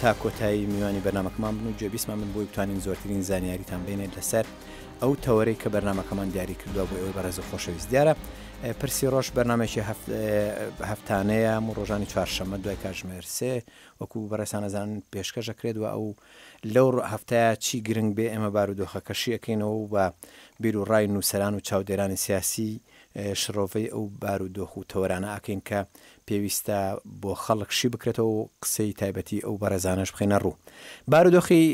تا کۆتایی میوانی بەرنمەکەمان بن و جێبیسمان من بۆی بتوانین زۆرترین زانیاریتان بینێت لەسەر ئەو تەوەرەی کە بەرنمەکەمان دیاری کردووە بۆ ئەوەی بەڕێز و خۆشەویست دیارە پرسی ڕۆژ بەرنمێکی هەفتانەیە و ڕۆژانی چوارشەمە دوای کاژمێر سێ وەکو بەڕێسانەزان پێشکەشەکرێت و ئەو لەو هەفتەیە چی گرنگ بێ ئێمە بارودۆخەکەشیەکەینەوە و بە بیر و ڕای نووسران و چاودێرانی سیاسی شڕۆڤەی ئەو بار و دۆخ و تەوەرانە ئەکەین کە پێویستە بۆ خەڵک شی بکرێتەوە و قسەی تایبەتی ئەو بەڕێزانەش بخەینە ڕوو. بار و دۆخی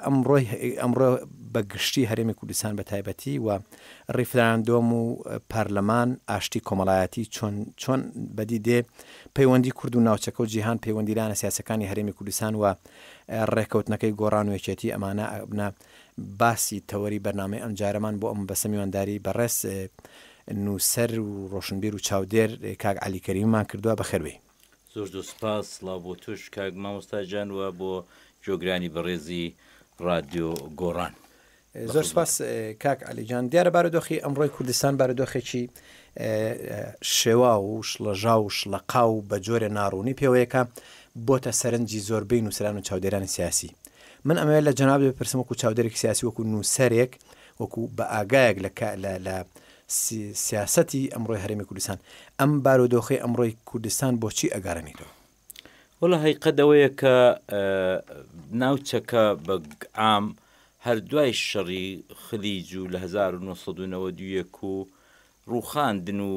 ئەمڕۆی ئەمڕۆ بە گشتی هەرێمی کوردستان بە تایبەتی و ڕیفراندۆم و پارلەمان ئاشتی کۆمەڵایەتی چۆن چۆن بەدی دێ پەیوەندی کورد و ناوچەکە و جیهان پەیوەندی لانە سیاسەکانی هەرێمی کوردستان و ڕێکەوتنەکەی گۆڕان و یەکێتی ئەمانە ئەبنە باسی تەوەری بەرنامەی ئەمجارەمان بۆ ئەم مەبەستە میوانداری بەڕێز نووسەر و ڕۆشنبیر و چاودێر کاک عەلی کەریمیمان کردووە بەخێر بێی. زۆر زۆر سوپاس، سڵاو بۆ تۆش کاک مامۆستا گیان و بۆ گوێگرانی بەڕێزی ڕادیۆ گۆڕان. زۆر سوپاس کاک عەلی گیان، دیارە بارودۆخی ئەمڕۆی کوردستان بارودۆخێکی شێواو و شڵەژاو و شڵەقاو و بە جۆرێ ناڕوونی پێوەیەکە، بۆتە سەرنجی زۆربەی نووسەران و چاودێرانی سیاسی. من ئەمەوێت لە جەنابت بپرسم وەکو چاودێرێکی سیاسی وەکو نووسەرێک وەکو بە ئاگایەک لە کا- لە لە سی- سیاسەتی ئەمڕۆی هەرێمی کوردستان ئەم بارودۆخەی ئەمڕۆی کوردستان بۆچی ئەگەڕێنیتەوە؟ وەڵا هەیقەت ئەوەیە کە ئە، ناوچەکە بە گ عام هەر دوای شەڕی خلیج و لە هەزار و نۆ سەد و نەوەد و یەک و ڕووخاندن و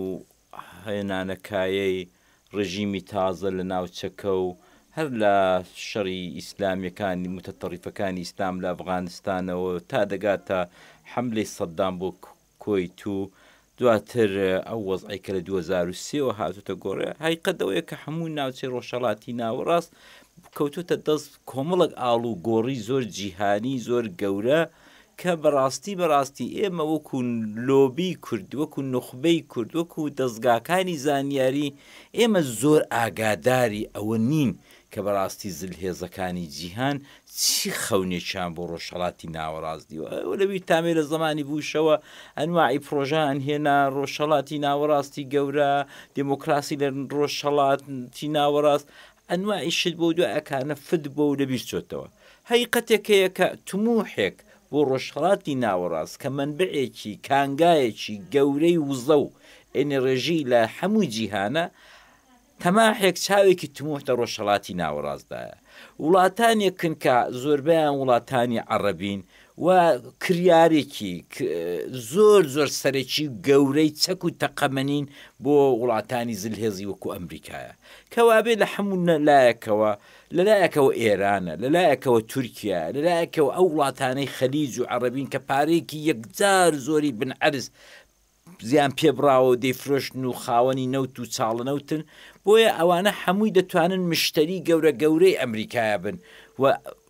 هێنانەکایەی ڕژیمی تازە لە ناوچەکە و هەر لە شەڕی ئیسلامیەکانی موتەتەڕیفەکانی ئیسلام لە ئەفغانستانەوە تا دەگاتە حەملەی سەدام بۆ کوەیت و دواتر ئەو وەزعی کە لە 2023 وە هاتوتە گۆڕێ هایقەدەوەیە کە هەموو ناوچەی ڕۆژهڵاتی ناوەڕاست کەوتوتە دەست کۆمەڵک ئاڵ و گۆڕی زۆر جیهانی زۆر گەورە کە بەڕاستی بەڕاستی ئێمە وەکو لۆبی کورد، وەکو نوخبەی کورد، وەکو دەزگاکانی زانیاری، ئێمە زۆر ئاگاداری ئەوە نین کە بەڕاستی زلهێزەکانی جیهان چی خەونێکیان بۆ ڕۆژهەڵاتی ناوەڕاست دیوە. ئێوە لەبیرتامەی لە زەمانی بوشەوە ئەنواعی پرۆژەیان هێنا، ڕۆژهەڵاتی ناوەڕاستی گەورە، دێمۆکڕاسی لە ڕۆژهەڵاتی ناوەڕاست، ئەنواعی شت بەو دوای ئەکانە فت بۆ و لە بیر چۆتەوە. هەقیقەتێک هەیە کە تموحێک بۆ ڕۆژهەڵاتی ناوەڕاست کە مەنبەعێکی، کانگایەکی، گەورەی وزە و ئێنێڕژی لە حەموو جیهانە، تەماحێک چاوێکی تموح دە ڕۆژهەڵاتی ناوەڕاستدایە. وڵاتانێکن کە زۆربەیان وڵاتانی عەڕەبین و کریارێکی زۆر زۆر سەرەکی و گەورەی چەک و تەقەمەنین بۆ وڵاتانی زلهێزی وەکو ئەمریکایە کەوابێ لە حەموو لایەکەوە لەلایەکەوە ئێرانە لەلایەکەوە تورکیا لەلایەکەوە ئەو وڵاتانەی خەلیج و عەڕبین کە پارێکی یەکجار زۆری بنعرز زیان پێبڕاوە و دەیفرۆشن و خاوەنی نەوت و چاڵنەوتن، بۆیە ئەوانە حەمووی دەتوانن مشتەری گەورە گەورەی ئەمریکایە بن و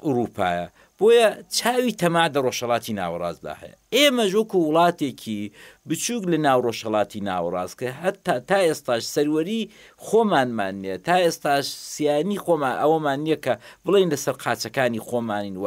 ئوڕووپایە، بۆیە چاوی تەماع دە ڕۆژهەڵاتی ناوەڕاستدا هەیە. ئێمەش وەکوو وڵاتێکی بچووک لە ناو ڕۆژهەڵاتی ناوەڕاست کە هەتا تا ئێستاش سەروەری خۆمانمان نیە، تا ئێستاش سیانی خۆمان ئەوەمان نیە کە بڵێین لە سەر قاچەکانی خۆمانین و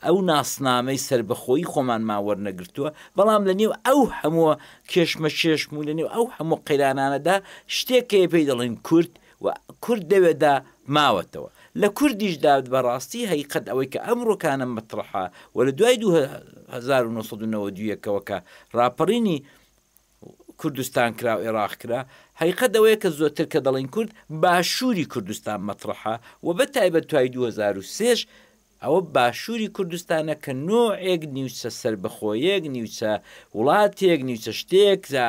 ئەو ناسنامەی سەربەخۆیی خۆمانمان وەرنەگرتووە، بەڵام لە نێو ئەو هەموو کێشمەکێشم و لە نێو ئەو هەموو قەیرانانەدا شتێک هەیە پێی دەڵێن کورد و کورد لەوێدا ماوەتەوە. لە کوردیشدا بە ڕاستی هەقیقەت ئەوەی کە ئەمڕۆ کانە مەتڕەحە و لە دوای دوو هەزار و نۆ سەد و نەوەد و یەک ەوە کە ڕاپەڕینی کوردستان کرا و ئێراق کرا، هەقیقەت ئەوەیە کە زۆرتر کە دەڵێین کورد، باشووری کوردستان مەتڕەحە و بە تایبەت دوای دوو هەزار و سێ ش ئەوە باشووری کوردستانە کە نوعێک نیوچە سەربەخۆیەک، نیوچە وڵاتێک، نیوچە شتێک جا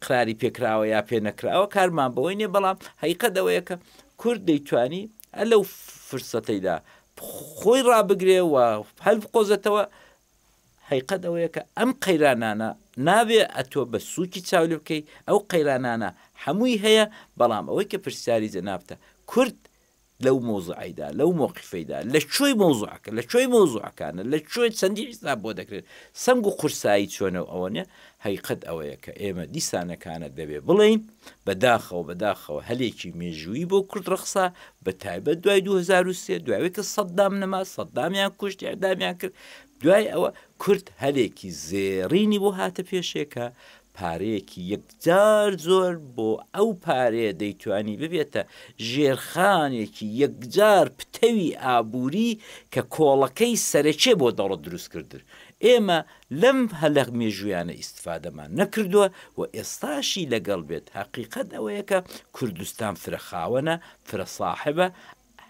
قراری پێکراوە یا پێ نەکراوە کارمان بەوەی نیە بەڵام حقیقەت ئەوەیە کە کورد دەیتوانی ئە لەو فرسەتەیدا خۆی ڕابگرێ و هەل بقۆزێتەوە حیقەت ئەوەیە کە ئەم قەیرانانە نابێ ئەتۆ بە سووکی چاولی بکەی ئەو قەیرانانە هەمووی هەیە بەڵام ئەوەی کە پرسیاری جەنابتە کورد لەو مەوزوعەیدا، لەو مەوقیفەیدا، لە کوێی مەوزوعەکە، لە کوێی مەوزوعەکانە، لە کوێ چەندی حیساب بۆ دەکرێت، سەنگ و قورسایی چۆنە و ئەوەنە، هەقیقەت ئەوەیە کە ئێمە دیسانەکانە دەبێ بڵێین، بە داخەوە بە داخەوە هەلێکی مێژوویی بۆ کورد ڕەخسا، بە تایبەت دوای دوو هەزار و سێ، دوای ئەوەی کە سەددام نەما، سەددامیان کوشت، ئێعدامیان کرد، دوای ئەوە کورد هەلێکی زێڕینی بۆ هاتە پێشێ کە پارەیەکی یەکجار زۆر بۆ ئەو پارەیە دەیتوانی ببێتە ژێرخانێکی یەکجار پتەوی ئابووری کە کۆڵەکەی سەرەکیە بۆ دەوڵەت دروستکردن. ئێمە لەم هەلە مێژوویانە ئیستفادەمان نەکردووە و ئێستاشی لەگەڵ بێت هەقیقەت ئەوەیە کە کوردستان فرە خاوەنە، فرە ساحبە،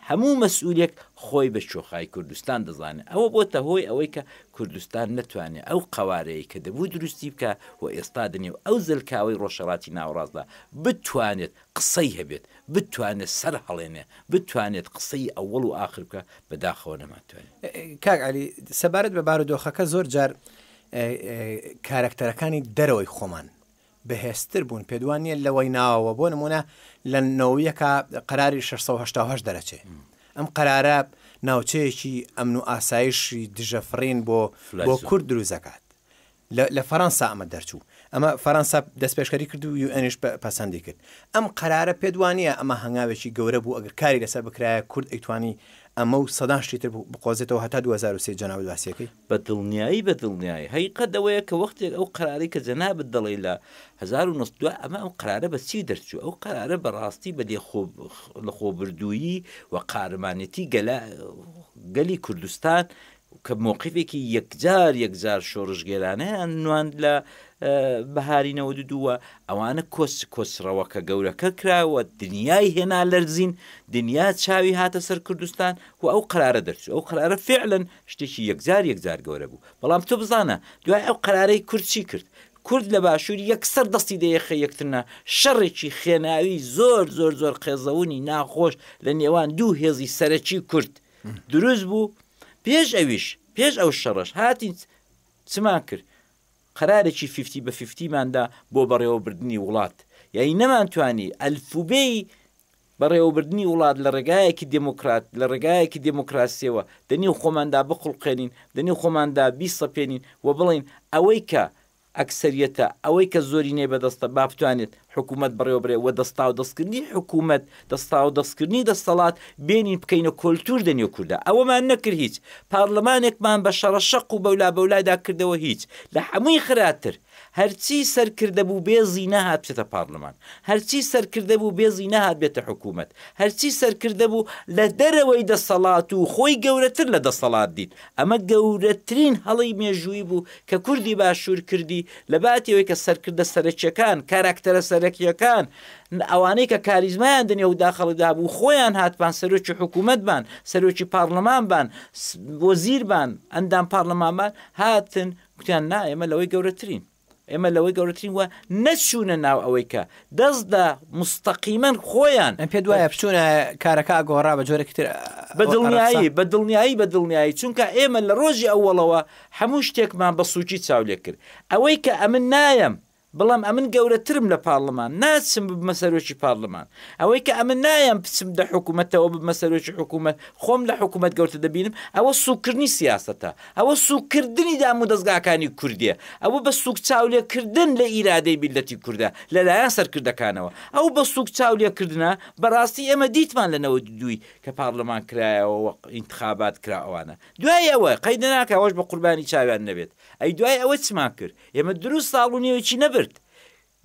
هەموو مەسئولێک خۆی بە چۆخای کوردستان دەزانێ، ئەوە بۆتە هۆی ئەوەی کە کوردستان نەتوانێ ئەو قەوارەیەی کە دەبوو دروستی بکا و ئێستا دەنێو ئەو زەلکاوەی ڕۆژهەڵاتی ناوەڕاستدا بتوانێت قسەی هەبێت، بتوانێت سەرهەڵێنێ، بتوانێت قسەی ئەوەڵ و ئاخر بکا، بەداخەوە نەمانتوانی. کاک عەلی، سەبارەت بە بارودۆخەکە زۆر جار کارەکتەرەکانی دەرەوەی خۆمان بەهێزتر بوون پێت وان نیە لەوەی ناوەوە بۆ نمونە لە نەوەیەکە قەراری 6هه دەرەچێ ئەم قەرارە ناوچەیەکی ئەمن و ئاسایشی دژە فڕین بۆ بۆ کورد دروست دەکات لە فەەنسا ئەمە دەرچوو ئەمە فەەنسا دەست پێشکاری کرد و یوئنیش پەسەندی کرد ئەم قەرارە پێت وانە ئەمە هەنگاوێکی گەورە بوو ئەگەر کاری لەسەر بکرایە کورد ئەیتوانی ئەمە و سەدان شتیتر بقۆزێتەوە هەتا 2023 جەناوی واسیەکەی بە دڵنیایی بە دڵنیایی هەقیقەت ئەوەیە کە وەختێک ئەو قەرارەی کە جەنابت دەڵێی لە هەزار و نۆ سەد دوا ئەمە ئەو قەرارە بە چی دەرچوو ئەو قەرارە بە ڕاستی بە لێ خۆ لە خۆبردوویی و قارەمانێتی گەلا گەلی کوردستان کە مۆقیفێکی یەکجار یەکجار شۆڕشگێرانەیان نواند لە بەهاری نەوە دووە ئەوانە کۆس کۆسڕەوەکە گەورەکە کراوە دنیای هێنا لەرزین دنیا چاوی هاتە سەر کوردستان و ئەو قرارە دەرچوو ئەو قرارە فعلن شتێکی یەکجار یەکجار گەورە بوو. بەڵام تۆ بزانە دوای ئەو قەرارەی کورد چی کرد؟ کورد لە باشوور یەکسەر دەستی دە یەخەی یەکتر نا، شەڕێکی خێناوی زۆر زۆر زۆر قێزەونی ناخۆش لە نێوان دوو هێزی سەرەکی کورد دروست بوو، پێش ئەویش پێش ئەو شەڕەش هاتین چمان کرد؟ قەرارێکی فیفتی بە فیفتیمان دا بۆ بەڕێوەبردنی وڵات، یانی نەمانتوانی ئەلفوبێی بەڕێوەبردنی وڵات لە ڕێگایەکی دێموکرات، لە ڕێگایەکی دێموکراسییەوە، دە نێو خۆماندا بخوڵقێنین، دە نێو خۆماندا بیسەپێنین و بڵێین ئەوەی کە ئەکسەریەتە، ئەوەی کە زۆرینەی بە دەستە با بتوانێت حکوومەت بەڕێوەبرێت و دەستاودەستکردنی حکوومەت، دەستاودەستکردنی دەستەڵات بێنین بکەینە کۆلتوور دە نێو کوردا. ئەوەمان نەکرد هیچ. پارڵمانێکمان بە شەڕەشەق و بەولابەولایدا کردەوە هیچ. لە هەمووی خراتر. هەرچی سەرکردە بوو بێزی نەهات بچێتە پارلمان، هەرچی سەرکردە بوو بێزی نەهات بێتە حکوومەت، هەرچی سەرکردە بوو لە دەرەوەی دەسەڵات و خۆی گەورەتر لە دەسەڵات دیت. ئەمە گەورەترین هەڵەی مێژوویی بوو کە کوردی باشوور کردی، لەباتی ئەوەی کە سەرکردە سەرەکییەکان، کاراکتەرە سەرەکییەکان، ئەوانەی کە کاریزمایان دنیو داخڵیدا بوو خۆیان هاتبان سەرۆکی حکوومەت بان، سەرۆکی پارلمان بان، وەزیر بان، ئەندام پارلمان بان، هاتن گوتیان نا ئێمە لەوەی گەورەترین ئێمە لەوەی گەورەترین وە نەچوونە ناو ئەوەی کە دەست لە مستەقیمەن خۆیان ئەم پێ دوایە بچوونە کارەکە گۆڕا بە جۆرە کتر بە دڵنیایی بە دڵنیایی بە دڵنیایی چونکە ئێمە لە ڕۆژی ئەوەڵەوە هەموو شتێکمان بە سوچی چاولێ کرد ئەوەی کە ئەمن نایەم بەڵام ئەمن گەورەترم لە پارڵمان، ناچم ببمە سەرۆکی پارڵمان. ئەوەی کە ئەمن نایەم بچم دە حکومەتەوە ببمە سەرۆکی حکومەت، خۆم لە حکومەت گەورتر دەبینم، ئەوە سووککردنی سیاسەتە. ئەوە سووککردنی دامودەزگاکانی کوردییە. ئەوە بە سووک چاولێکردن لە ئیرادەی میللەتی کوردە لە لایەن سەرکردەکانەوە. ئەو بە سووک چاولێکردنە بەڕاستی ئێمە دیتمان لە نەوەد و دوو ی کە پارڵمان کرایەوە و ئینتخابات کرا ئەوانە دوای ئەوە قەیدناکا ئەوەش بە قوربانی چاویان نەبێت ئەی دوای ئەوە چمان کرد؟ ئێمە دروست ساڵ و نیوێکی نەبرد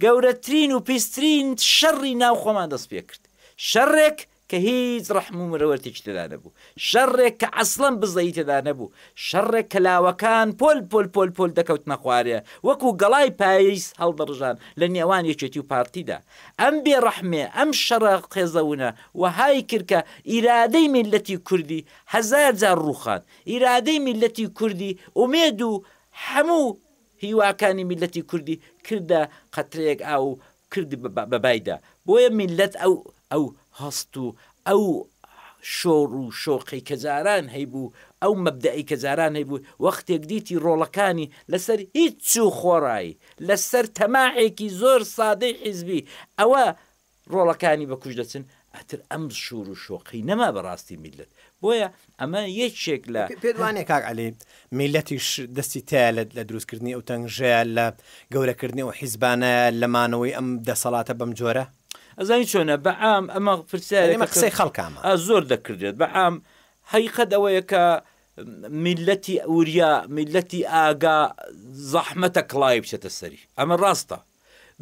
گەورەترین و پیسترین شەڕی ناو خۆمان دەست پێکرد شەڕێک کە هیچ ڕەحم و مرەوەرتێکی تێدا نەبوو شەڕێک کە عەسڵەن بزەی تێدا نەبوو شەڕێک کە لاوەکان پۆل پۆل پۆل پۆل دەکەوتنە خوارێ وەکو گەڵای پاییز هەڵدەڕژان لە نێوان یەکێتی و پارتیدا ئەم بێڕەحمێ ئەم شەڕە قێزەونە وەهای کرد کە ئیرادەی میللەتی کوردی هەزار جار ڕووخان ئیرادەی میللەتی کوردی ئومێد و هەموو هیواکانی میللەتی کوردی کردە قەترەیەک ئاو و کرد بە بایدا، بۆیە میللەت ئەو ئەو هەست و ئەو شۆڕ و شۆقەی کە جاران هەیبوو، ئەو مەبدەئەی کە جاران هەیبوو، وەختێک دیتی ڕۆڵەکانی لەسەر هیچ چوو خۆڕایی، لەسەر تەماحێکی زۆر سادەی حیزبی، ئەوە ڕۆڵەکانی بە کوژ دەچن ئەتر ئەم شور و شۆقەی نەما بە ڕاستی میللەت بۆیە ئەمە یەکێک لە. پێت وانیە کاک عەلی میللەتیش دەستی تایە لە دروست کردنی ئەو تەنگژەیە لە گەورە کردنی ئەو حیزبانەیە لە مانەوەی ئەم دەسەڵاتە بەم جۆرە؟ ئەزانی چۆنە بە عام ئەمە پرسیارێکە یانی ئەمە قسەی خەڵکە ئا زۆر دەکردرێت بە عام حەقیقەت ئەوەیە کە میللەتی وریا میللەتی ئاگا زەحمەتە کڵاوی بچێتە سەری ئەمە ڕاستە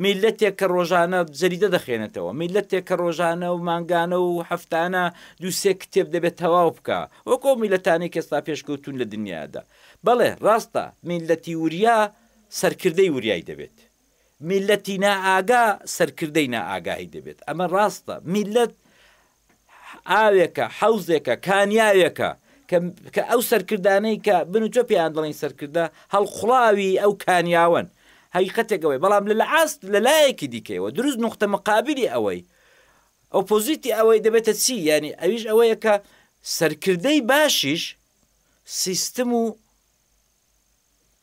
میللەتێک کە ڕۆژانە جەریدە دەخوێنێتەوە، میللەتێک کە ڕۆژانە و مانگانە و هەفتانە دوو سێ کتێب دەبێ تەواو بکا، وەکو ئەو میللەتانەی کە ئێستا پێشکەوتوون لە دنیادا. بەڵێ، ڕاستە، میللەتی وریا سەرکردەی وریای دەبێت. میللەتی نائاگا سەرکردەی نائاگاهی دەبێت. ئەمە ڕاستە. میللەت ئاوێکە، حەوزێکە، کانیاوێکە، کە کە ئەو سەرکردانەی کە من و تۆ پێیان دەڵێین سەرکردە، هەڵقوڵاوی ئەو کانیاوەن. هەقیقەتێک ئەوەیە، بەڵام لە لەئاست لە لایەکی دیکەیەوە، دروست نوقتە مقابلی ئەوەی، ئۆپۆزیتی ئەوەی دەبێتە چی؟ یانی ئەویش ئەوەیە کە سەرکردەی باشیش سیستم و،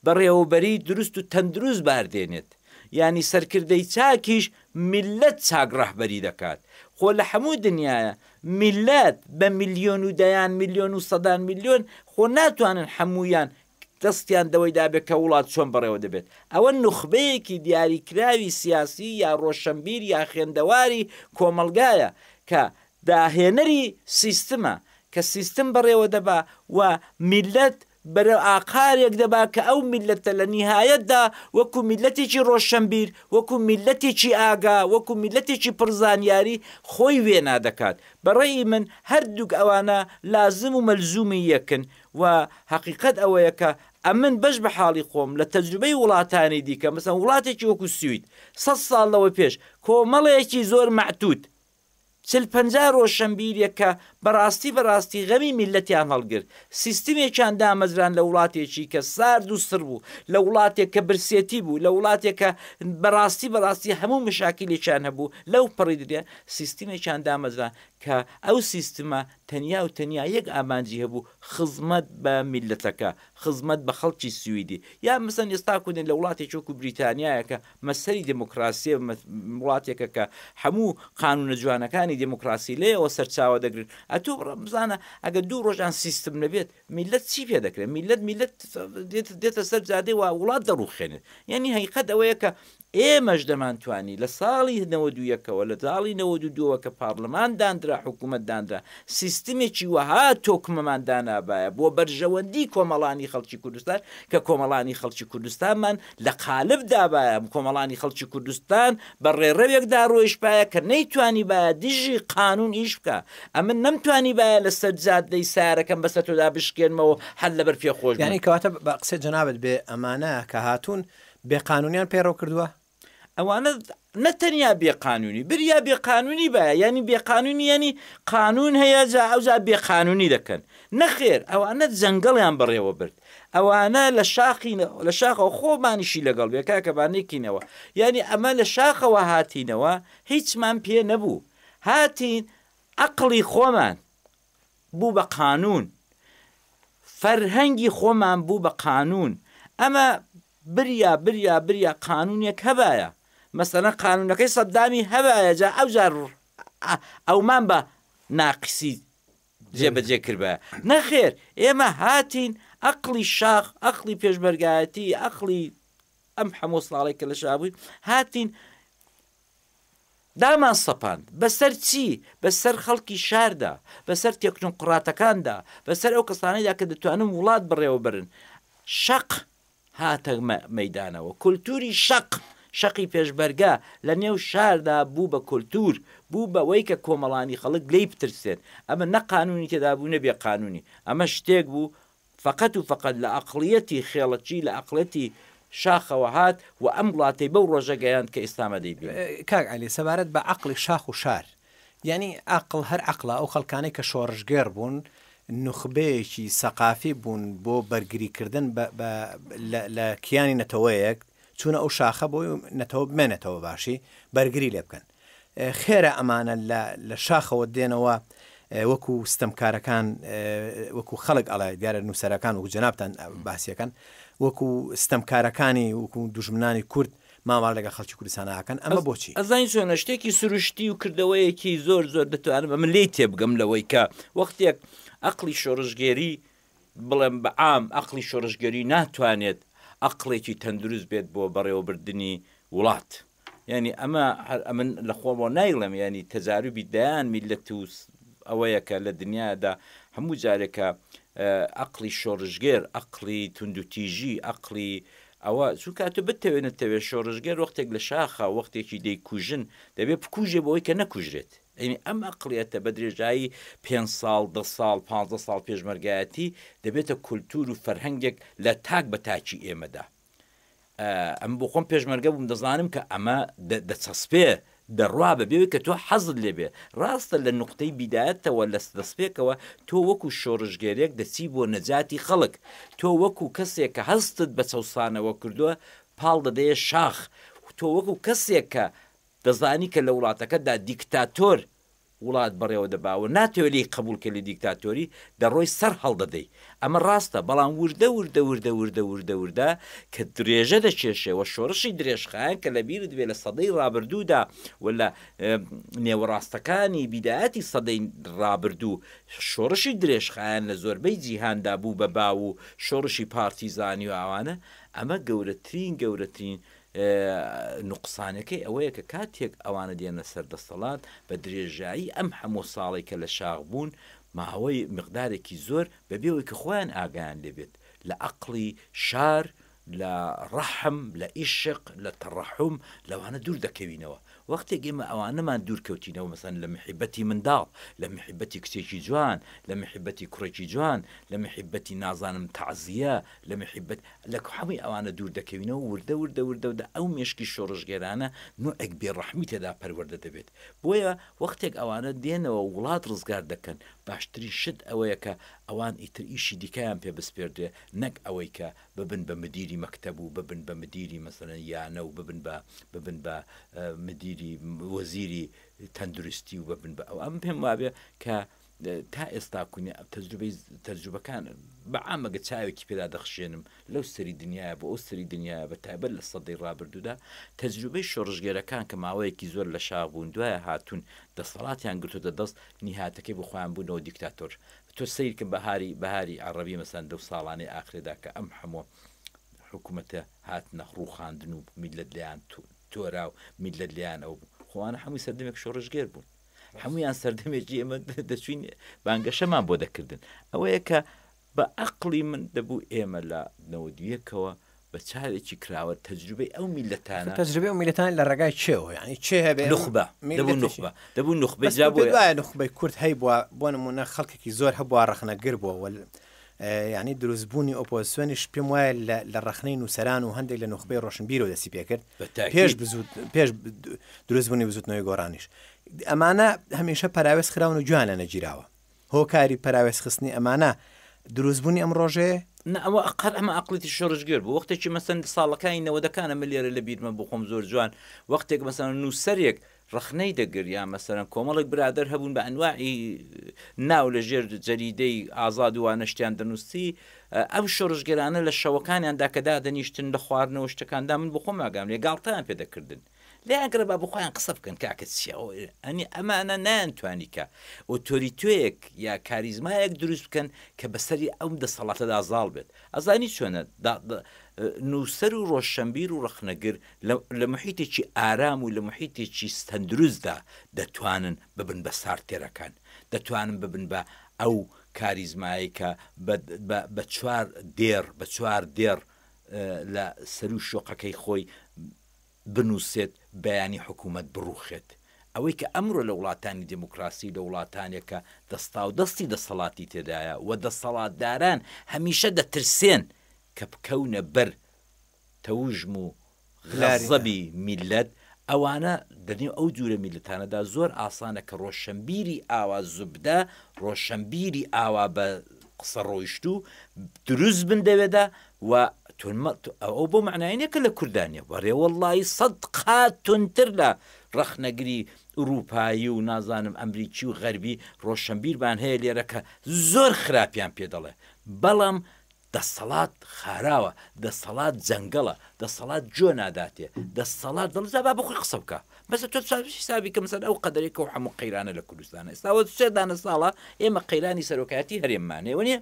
بەڕێوەبەریی دروست و تەندروست بار دێنێت، یانی سەرکردەی چاکیش میللەت چاک ڕەهبەری دەکات، خۆ لە هەموو دنیایە میللەت بە میلیۆن و دەیان میلیۆن و سەدان میلیۆن خۆ ناتوانن هەموویان دەستیان دەوەی دابێت کە وڵات چۆن بەڕێوە دەبێت، ئەوە نوخبەیەکی دیاریکراوی سیاسی یا ڕۆشەنبیر یا خوێندەواری کۆمەڵگایە کە داهێنەری سیستمە کە سیستم بەڕێوە دەبا و میللەت بەرەو ئاقارێک دەبا کە ئەو میللەتە لە نیهایەتدا وەکو میللەتێکی ڕۆشنبیر، وەکو میللەتێکی ئاگا، وەکو میللەتێکی پڕ زانیاری خۆی وێنا دەکات. بە ڕەئی من هەردووک ئەوانە لازم و مەلزوومی یەکن و هەقیقەت ئەوەیە کە ئەمن بەش بە حاڵی خۆم لە تەجروبەی وڵاتانی دیکە مەسەن وڵاتێکی وەکو سوید سەد ساڵ لەوە پێش کۆمەڵێکی زۆر مەعتوود چل پەنجا ڕۆشەنبیرێک کە بەڕاستی بەڕاستی غەمی میللەتیان هەڵگرت، سیستمێکیان دامەزراند لە وڵاتێکی کە سارد و سڕ بوو، لە وڵاتێک کە برسێتی بوو، لە وڵاتێک کە بەڕاستی بەڕاستی هەموو مەشاکیلێکیان هەبوو، لەو پەڕی درێ سیستمێکیان دامەزراند کە ئەو سیستمە تەنیا و تەنیا یەک ئامانجی هەبوو خزمەت بە میللەتەکە، خزمەت بە خەڵکی سویدی. یا مەسەن ئێستا کودێن لە وڵاتێکی وەکوو بریتانیایە کە مەسەری دێمۆکڕاسیە وڵاتێکە کە حەموو قانوونە جوانەکانی دێمۆکڕاسی لێەوە سەرچاوە دەگرن ئەتۆ بزانە ئەگە دوو ڕۆژان سیستم نەبێت میلەت چی پێ دەکرێت میلەت میلەت دێتە سەر جادێ و وڵات دەڕوخێنێت یعنی هەیقەت ئەوەیە کە ئێمەش دەمانتوانی لە ساڵی هەوە دوویەکەوە لە زاڵی نەوە دووەوە کە پارلمان دانرا حکوومەت دانرا سیستمێکی وەها تۆکمەمان دانابایە بۆ بەرژەوەندی کۆمەڵانی خەڵکی کوردستان کە کۆمەڵانی خەڵکی کوردستانمان لە قالب دابایە، کۆمەڵانی خەڵکی کوردستان بە ڕێڕەوێک دا ڕۆیشتبایە کە نەیتوانیبایە دژی قانوون ئیش بکا. ئەمن نەمتوانیبایە لە سەر جادەی سارەکەم بە سەر تۆدا بشکێنمەوە و هەر لە بەر پێ خۆش بم. یانی کەواتە بە قسەی جەنابت بێ ئەمانە کە هاتوون بێ قانوونیان پەیڕەو کردووە؟ ئەوانە نە تەنیا بێ قانونی بریا بێ قانونی بایە یانی بێ قانونی یانی قانون هەیە جا ئەوجا بێ قانونی دەکەن نەخێر ئەوانە جەنگەڵیان بەڕێوە برد ئەوانە لە شاخین لە شاخەوە خۆمانیشی لەگەڵ بێ کاکە با نێکینەوە یانی ئەمە لە شاخەوە هاتینەوە هیچمان پێ نەبوو هاتین عقلی خۆمان بوو بە قانون فەرهەنگی خۆمان بوو بە قانون ئەمە بریا بریا بریا قانونێک هەبایە مەسەلەن قانونەکەی سەددامی هەبایە جا ئەوجار ئەومان بە ناقسی جێبەجێ کردبایە نەخێر ئێمە هاتین ئەقلی شاخ ئەقلی پێشمەرگایەتی ئەقلی ئەم هەموو ساڵێک کە لە شابووین هاتین دامان سەپاند بەسەر چی بەسەر خەڵکی شاردا بەسەر تێکنۆقڕاتەکاندا بەسەر ئەو کەسانەیدا کە دەتوانن وڵات بڕێوە برن شەق هاتە مەیدانەوە. کولتووری شەق، شەقی پێشمەرگە، لە نێو شاردا بوو بە کولتوور، بوو بەوەی کە کۆمەڵانی خەڵک لێی بترسێن. ئەمە نە قانوونی تێدا بوو نە بێ قانوونی. ئەمە شتێک بوو فەقەت و فەقەت لە ئەقڵیەتی خێڵەکی، لە ئەقڵیەتی شاخەوە هات و ئەم وڵاتەی بەو ڕۆژە گەیاند کە ئێستا ئەمە دەیبینین. کاک عەلی، سەبارەت بە ئەقڵی شاخ و شار، یانی ئەقڵ هەر ئەقڵە ئەو خەڵکانەی کە شۆڕشگێڕ بوون نوخبەیەکی سەقافی بوون بۆ بەرگریکردن لە کیانی نەتەوەیەک چونە ئەو شاخە بۆی نەتەوە بمێنێتەوە باشی بەرگری لێ بکەن خێرە ئەمانە لە شاخەوە دێنەوە وەکو ستەمکارەکان وەکو خەڵک ئەڵێ دیارە نووسەرەکان و جەنابان باسیەکەن وەکو ستەمکارەکانی وەکو دژمنانی کورد مامەڵە لەگەڵ خەڵکی کوردستانا ئەکەن ئەمە بۆچی؟ ئەزانی چۆنە شتێکی سروشتی و کردەوەیەکی زۆر زۆر دەتوانم ئەمە لێی تێبگەم لەوەی کە وەختێک ئەقڵی شۆڕشگێری بڵێم بە عام ئەقڵی شۆڕشگێری ناتوانێت ئەقڵێکی تەندروست بێت بۆ بەڕێوەبردنی وڵات یانی ئەمە هەر ئەمن لە خۆمەوە نایڵم ینی تەزاروبی دەیان میلەت و ئەوەیەکە لە دنیادا هەموو جارێکە ئەقلی شۆڕژگێر ئەقلی توندوتیژی ئەقلی ئەوە چونکە ئەتو بتەوێ نەتەوێ شۆڕشگێر وەختێک لە شاخە وەختێکی دەیکوژن دەبێ بکوژێ بۆی کە نەکوژرێت ئەینی ئەم ئەقلیەتە بە درێژایی پێ ساڵ دە ساڵ پ ساڵ پێشمەرگایەتی دەبێتە کولتور و فەرهەنگێک لە تاک بە تاکی ئێمەدا ئەم بۆ خۆم پێشمەرگە بووم دەزانم کە ئەمە دەچەسپێ دەڕوا بەبێ ئەوەی کە تۆ حەزت لێ بێت. ڕاستە لە نوقتەی بیدایەتەوە، لە دەستپێکەوە، تۆ وەکوو شۆڕشگێرێک دەچی بۆ نەجاتی خەڵک. تۆ وەکوو کەسێک کە هەستت بە چەوسانەوە کردووە، پاڵ دەدەیە شاخ. تۆ وەکوو کەسێک کە دەزانی کە لە وڵاتەکەتدا دیکتاتۆر وڵات بەڕێوە دەباوە ناتەوێ لێی قەبوڵ کەی لە دیکتاتۆری دەڕۆی سەر هەڵدەدەی ئەمە ڕاستە بەڵام وردە وردە وردە وردە وردە وردە کە درێژە دەکێشێ وە شۆڕشی درێژخایەن کە لەبیرت بێ لە سەدەی ڕابردوودا و لە نێوەڕاستەکانی بیدایەتی سەدەی ڕابردوو شۆڕشی درێژخایەن لە زۆربەی جیهاندا بوو بە باو و شۆڕشی پارتیزانی و ئەوانە ئەمە گەورەترین گەورەترین نوقسانەکەی ئەوەیە کە کاتێک ئەوانە دێنە سەر دەستەڵات بە درێژایی ئەم هەموو ساڵەی کە لە شاخ بوون ماوەی مقدارێکی زۆر بەبێ ئەوەی کە خۆیان ئاگایان لێ بێت لە ئەقڵی شار لە ڕەحم لە ئیشق لە تەڕەحوم لەوانە دوور دەکەوینەوە وەختێک ئێمە ئەوانەمان دوور کەوتینەوە مەسەن لە محیبەتی منداڵ، لە محیبەتی کچێکی جوان، لە محیبەتی کوڕێکی جوان، لە محیبەتی نازانم تەعزیە، لە محیبەت، لە هەمووی ئەوانە دوور دەکەوینەوە وردە وردە وردە وردە ئەو مێشکی شۆڕشگێرانە نوعێک بێ ڕەحمی تێدا پەروەردە دەبێت بۆیە وەختێک ئەوانە دێنەوە و وڵات ڕزگار دەکەن باشترین شت ئەوەیە کە ئەوان ئیتر ئیشی دیکەیان پێ بسپێردرێ نەک ئەوەی کە ببن بە مدیری مەکتەب و ببن بە مدیری مەسەلەن یانە و ببن بە ببن بە مدیری وەزیری تەندروستی و ببن بە ئەو ئەم پێم وابێ کە تا ئێستا کونی تەجروبەی تەجروبەکان بە ئامەگە چاوێکی پێدا دەخشێنم لەو سەری دنیاە بۆ ئەو سەری دنیا بە تایبەت لە سەدەی ڕابردوودا تەجروبەی شۆڕژگێرەکان کە ماوەیەکی زۆر لە شاغ بوون دوایە هاتوون دەسەڵاتیان گرتوتە دەست نیهاتەکەی بخۆیان بوونەوە دیکتاتۆر تۆ سەیرکە بەهاری بەهاری عەڕەبی مەسەلەن لەو ساڵانەی ئاخرێدا کە ئەم حەموو حکومەتە هاتنە ڕووخاندن و میللەت لێیان تو تۆرا و میللەت لێیان ئەو بوو خۆ ئەوانە حەمووی سەردەمێک شۆڕشگێر بوون حەموویان سەردەمێکی ئێمە دەچووین بانگەشەمان بۆ دەکردن ئەوەیە کە بە عەقڵی من دەبوو ئێمە لە نەوەد و یەکەوە بە چاوێکی کراوە تەجروبەی ئەو میللەتانە. تەجروبەی ئەو میللەتانە لە ڕێگای چێوە یانی چێ هەبێ. نوخبە دەبوو نوخبە دەبوو نوخبە بەس پێت وایە نوخبەی کورد هەیبووە بۆ نموونە خەڵکێکی زۆر هەبووە ڕەخنەگر بووە وەل یعنی دروستبوونی ئۆپۆزسیۆنیش پێم وایە لە ڕخنەی نووسران و هەندێک لە نوخبەی ڕۆشنبیرەوە دەستی پێکرد پێش بزود پێش دروستبوونی بزوتنەوەی گۆڕانیش ئەمانە هەمیشە پراوێز خراون و جویان لە نەگیراوە هۆکاری پەراوێز خستنی ئەمانە دروست بونی ئەم ڕۆژەیە؟ نا ئەوە ئەقەر ئەمە ئەقڵێکی شۆڕشگێر بوو وەختێکی مەسەن ساڵەکانی نەوەدەکانە من لێرە لە بیرمە بۆ خۆم زۆر جوان وەختێک مەسەن نووسەرێک ڕخنەی دەگر یا مەسەرەن کۆمەڵێک برادر هەبوون بە ئەنواعی ناو لە ژێر جەریدەی ئازاد وانە شتیان دەنووسی ئەم شۆڕشگەرانە لە شەوەکانیاندا کە دادەنیشتن لە خواردنەوە شتەکاندا من بخۆم ئاگام لێ گاڵتەیان پێ دەکردن لێیان گڕێ با بۆخۆیان قسە بکەن کاکە چیە ئەوە ئەنی ئەمانە نایان توانی کە ئۆتۆریتۆیەک یا کاریزمایەک دروست بکەن کە بەسەری ئەم دەسەڵاتەدا زاڵ بێت ئەزانی چۆنە نووسەر و ڕۆشنبیر و ڕخنەگر لە محیتێکی ئارام و لە محیتێکی ستەندروستدا دەتوانن ببن بە سارتێرەکان دەتوانن ببن بە ئەو کاریزمایی کە بە چوار دێڕ بە چوار دێڕ لە سەرو شۆقەکەی خۆی بنوسێت بەیانی حکومەت بڕوخێت، ئەوەی کە ئەمرۆ لە وڵاتانی دیموکراسی و لە وڵاتانێک کە دەستاودەستی دەسەڵاتی تێدایە و دەسەڵاتداران هەمیشە دەترسێن کە بکەونە بەر تەوژم و غەزەبی میللەت، ئەوانە لەنێو ئەو جورە میللەتانەدا زۆر ئاسانە کە رۆشەنبیری ئاوا زوبدە، رۆشەنبیری ئاوا بە قسە رۆیشتوو دروست بن دەوێدا وە تون مە ئەوە بۆ مەعنای نیە کە لە کوردا نیە بەرێ وەڵایی سەد قات تونتر لە ڕەخنەگری ئوروپایی و نازانم ئەمریکی و غەربی ڕۆشەنبیرمان هەیە لێرە کە زۆر خراپیان پێ دەڵێ بەڵام دەسەڵات خاراوە دەسەڵات جەنگەڵە دەسەڵات جۆ ناداتێ دەسەڵات دڵ جا با بخۆی قسە بکە بەس تۆ چاوی حسابی کە مەسەر ئەو قەدەرێکە و هەموو قەیرانە لە کوردستانە ئێستاوە سێدانە ساڵە ئێمە قەیرانی سەرۆکایەتی هەرێممانێ وە نیە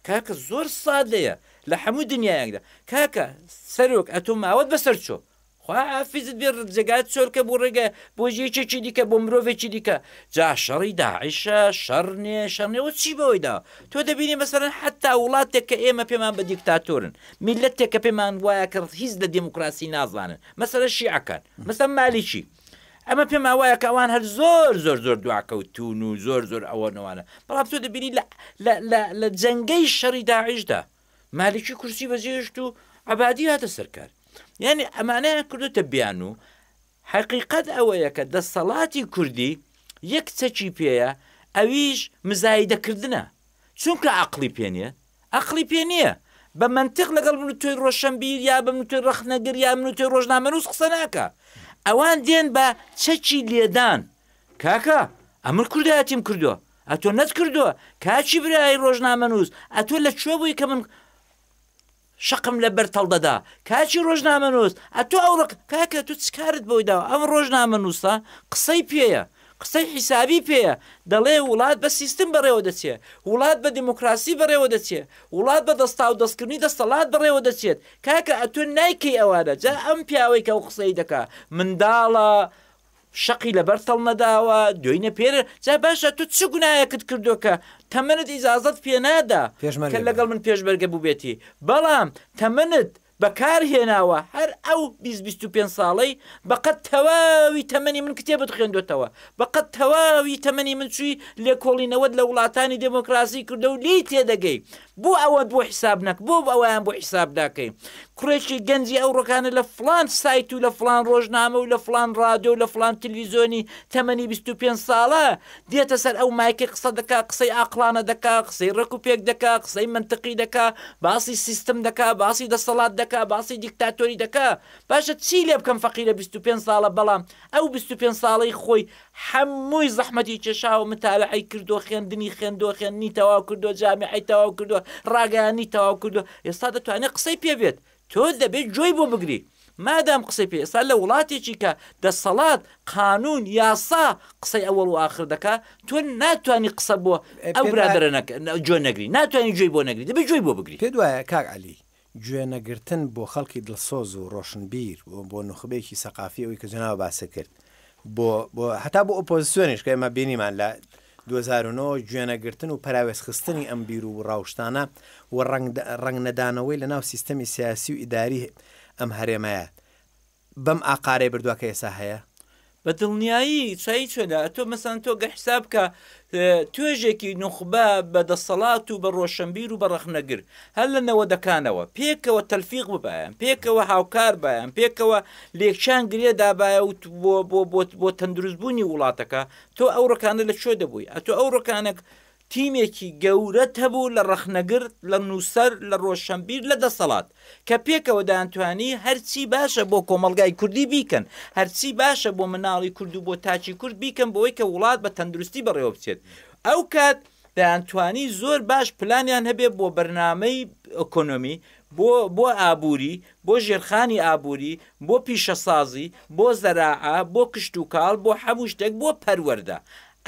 کاکە زۆر سادەیە لە حەموو دنیایەکدا کاکە سەرۆک ئەتۆ ماوەت بەسەر چۆ خوا حافیزت بێ ڕجێگات چۆلکە بۆ ڕێگە بۆ یەکێکی دیکە بۆ مرۆڤێکی دیکە جا شەڕی داعشە شەڕ نێ شەڕ نێ وە چی بەوەی داوە تۆ دەبینی مەسەرەن حتا وڵاتێک کە ئێمە پێمان بە دیکتاتۆرن میلەتێک کە پێمان وایە کە هیچ لە دێموکراسی نازانن مەسەرە شیعەکان مەسەن مالیکی ئەمە پێمان وایە کە ئەوان هەر زۆر زۆر زۆر دواکەوتون و زۆر زۆر ئەوە نەوانە بەڵام تۆ دەبینی لە جەنگەی شەڕی داعیشدا مالکی کورسی بەجێشت و عبادی هاتە سەرکار یعنی ئەمانەیان کردوتە بیان و حقیقت ئەوەیە کە دەسەڵاتی کوردی یەک چەکی پێەیە ئەویش مزایدەکردە چونکە عقلی پێنیە ئەقڵی پێ نیە، بە مەنتق لەگەڵ من و تۆی ڕۆشەنبیر یا بە من و تۆی ڕەخنەگر یا من و تۆی ڕۆژنامەنووس قسە ناکا. ئەوان دێن بە چەکی لێدان، کاکە ئەمن کوردایەتیم کردووە ئەتۆ نەتکردووە، کاکی برای ڕۆژنامەنووس ئەتۆ لە کوێ بووی کە من شەقم لە بەر تەڵ دەدا، کاکی ڕۆژنامەنووس ئەتۆ ئەوڕۆ کاکە تۆ چ کارت بۆی داوە، ئەم ڕۆژنامەنووسە قسەی پێیە، قسەی حیسابی پێیە دەڵێ وڵات بە سیستم بەڕێوە دەچێ، وڵات بە دێمۆکڕاسی بەڕێوە دەچێ، وڵات بە دەستاو دەستکردنی دەستەڵات بەڕێوە دەچێت، کاکە ئەتۆ نایکەی ئەوانە، جا ئەم پیاوەی کە ئەو قسەی دەکا منداڵە، شەقی لەبەر تەڵ نەداوە، دوێی نەپێرێ، جا باشە تۆ چ گوناهێکت کردوە کە تەمەنت ئیجازەت پێ نادا کە لەگەڵ من پێشمەرگە بوبێتی، بەڵام تەمەنت بەکار هێناوە هەر ئەو بیست بیست و پێنج ساڵەی بەقەد تەواوی تەمەنی من کتێبت خوێندۆتەوە بەقەد تەواوی تەمەنی من چوی لێکۆڵینەوەت لە وڵاتانی دێمۆکڕاسی کردە و لێی تێدەگەی بۆ ئەوەت بۆ حیساب نەک بۆ ئەویان بۆ حیساب ناکەی کوڕێکی گەنجی ئەو ڕۆکانە لە فڵان سایت و لە فڵان ڕۆژنامە و لە فڵان ڕادۆ و لە فڵان تلویزۆنی تەمەنی بیست و پێنج ساڵە دێتە سەر ئەو مایکەی قسە دەکا قسەی ئاقڵانە دەکا قسەی ڕێک و پێک دەکا قسەی مەنتقی دەکا باسی سیستم دەکا باسی دەسەڵات دەکا باسی دیکتاتۆری دەکا باشە چی لێ بکەم فەقیرە بیست و پێنج ساڵە بەڵام ئەو بیست و پێنج ساڵەی خۆی حەمووی زەحمەتی کێشاوە متابەعەی کردووە خوێندنی خوێندووە خوێندنی تەواو کردووە جامیعەی تەواو کردووە ڕاگەیاندنی تەواو کردووە ئێستا دەتوانێ قسەی پێ بێت تۆ دەبێت گوێی بۆ بگریت مادام قسەی پێ ئێستا لە وڵاتێکی کە دەسەڵات قانون یاسا قسەی ئەوەڵ و ئاخر دەکا تۆ ناتوانانی قسە بۆ ئەو برادرە جۆ نەگری ناتوانانی گوێی بۆ نەگری دەبێت گوێی بۆ بگری پێ دوایە کاک علی گوێنەگرتن بۆ خەڵکی دڵسۆز و ڕۆشنبیر و بۆ نوخبەیەکی سەقافی ئەوی کە جەناو باسی کرد بۆ بۆ هەتا بۆ ئۆپۆزیسیۆنیش کە ئێمە بینیمان لە دوو هەزار و نۆ گوێنەگرتن و پەراوێزخستنی ئەم بیر و ڕاوشتانە و ڕەنگنەدانەوەی لە ناو سیستەمی سیاسی و ئیداریی ئەم هەرێمەیە بەم ئاقارەی بردوە کە ئێستا هەیە. بە دڵنیایی چایی چۆلە ئەتۆ مەسەن تۆ گە حساب بکە توێژێکی نوخبە بە دەسەڵات و بە ڕۆشەنبیر و بە ڕەخنەگر هەر لە نەوەدەکانەوە پێکەوە تەلفیق ببایەن پێکەوە هاوکار بایەن پێکەوە لێکچیان گرێ دابایە و بۆ بۆ بۆ بۆ تەندروست بوونی وڵاتەکە تۆ ئەو ڕکانە لە کوێ دەبووی ئەتۆ ئەو ڕکانەک تیمێکی گەورەت هەبوو لە ڕەخنەگر لە نووسەر لە ڕۆشەنبیر لە دەسەڵات کە پێکەوە دەیانتوانی هەرچی باشە بۆ کۆمەڵگای کوردی بیکەن هەرچی باشە بۆ مناڵی کورد و بۆ تاکی کورد بیکەن بۆی کە وڵات بە تەندروستی بەڕێوە بچێت ئەو کات دەیانتوانی زۆر باش پلانیان هەبێ بۆ بەرنمەی ئۆکۆنۆمی بۆ بۆ ئابووری بۆ ژێرخانی ئابووری، بۆ پیشەسازی، بۆ زەراعە، بۆ کشتوکاڵ، بۆ هەموو شتێک، بۆ پەروەردە.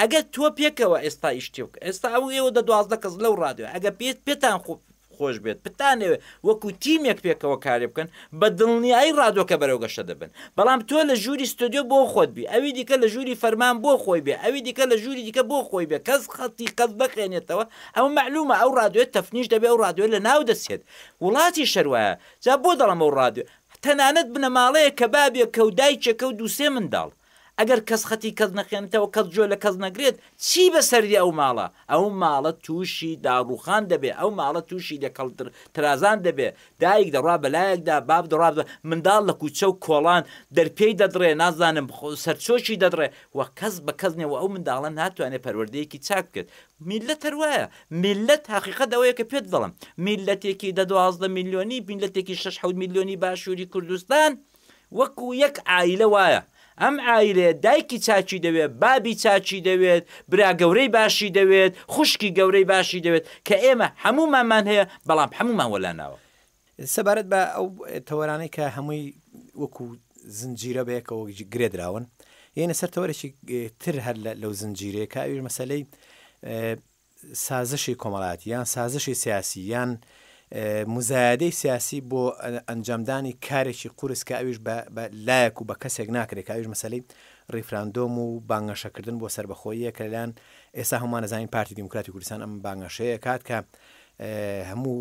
ئەگەر تۆ پێکەوە ئێستا ئیش تێ بکە، ئێستا ئەو ئێوە دە دوازدە کەس لەو ڕادیۆیە، ئەگەر پێ پێتان خۆ خۆش بێت، بتانەوێ وەکوو تیمێک پێکەوە کارێ بکەن، بە دڵنیایی ڕادیۆکە بەرەو گەشە دەبن. بەڵام تۆ لە ژووری ستۆدیۆ بۆ خۆت بی، ئەوی دیکە لە ژووری فەرمان بۆ خۆی بێ، ئەوی دیکە لە ژووری دیکە بۆ خۆی بێ، کەس خەتی کەس نەخێنێتەوە، ئەوە مەعلوومە ئەو ڕادیۆیە تەفنیش دەبێ، ئەو ڕادیۆیە لە ناو دەچێت. وڵاتیش هەر وایە، جا بۆ دەڵێم ئەو ڕادیۆ، تەنانەت بنەماڵەیەک کە بابێکە و دایکێکە و دوو سێ منداڵ، ئەگەر کەس خەتی کەس نەخێنێتەوە، کەس گوێ لە کەس نەگرێت، چی بە سەردی ئەو ماڵە؟ ئەو ماڵە تووشی داڕووخان دەبێ، ئەو ماڵە تووشی لێکهڵ ترازان دەبێ، دایک دەڕوا بە لایەکدا، باب دەڕوا بە، منداڵ لە کووچە و کۆڵان دەرپێی دەدڕێ، نازانم سەرچۆکی دەدڕێ و کەس بە کەس نییە و ئەو منداڵە ناتوانێ پەروەردەیەکی چاک بکرێت. میللەت هەر وایە، میللەت هەقیقەت ئەوەیە کە پێت دەڵێم، میللەتێکی دە دوازدە میلیۆنی، میللەتێکی شەش حەوت میلیۆنی باشووری کوردستان وەکوو یەک عایلە وایە، ئەم عایلەیە دایکی چاکی دەوێت، بابی چاکی دەوێت، برا گەورەی باشی دەوێت، خوشکی گەورەی باشی دەوێت، کە ئێمە هەموومانمان هەیە، بەڵام هەموومان وەلا ناوە. سەبارەت بە ئەو تەوەرانەی کە هەمووی وەکو زنجیرە بەیەکەوە گرێ دراون یعنی سەر تەوەرێکی تر هەر لەو زنجیرەیە کە ئەوش مەسلەی سازشی کۆمەڵاتی یان سازشی سیاسی یان مزایادەی سیاسی بۆ ئەنجامدانی کارێکی قورس کە ئەوش لایەک و بە کەسێک ناکرێت کە ئەوش مەسلەی ڕیفراندۆم و بانگەشەکردن بۆ سربەخۆیە کەلان ئێستا هەمانەزانین پارتی دیموکراتی کوردستان ئەم بانگەشەیە کات کە هەموو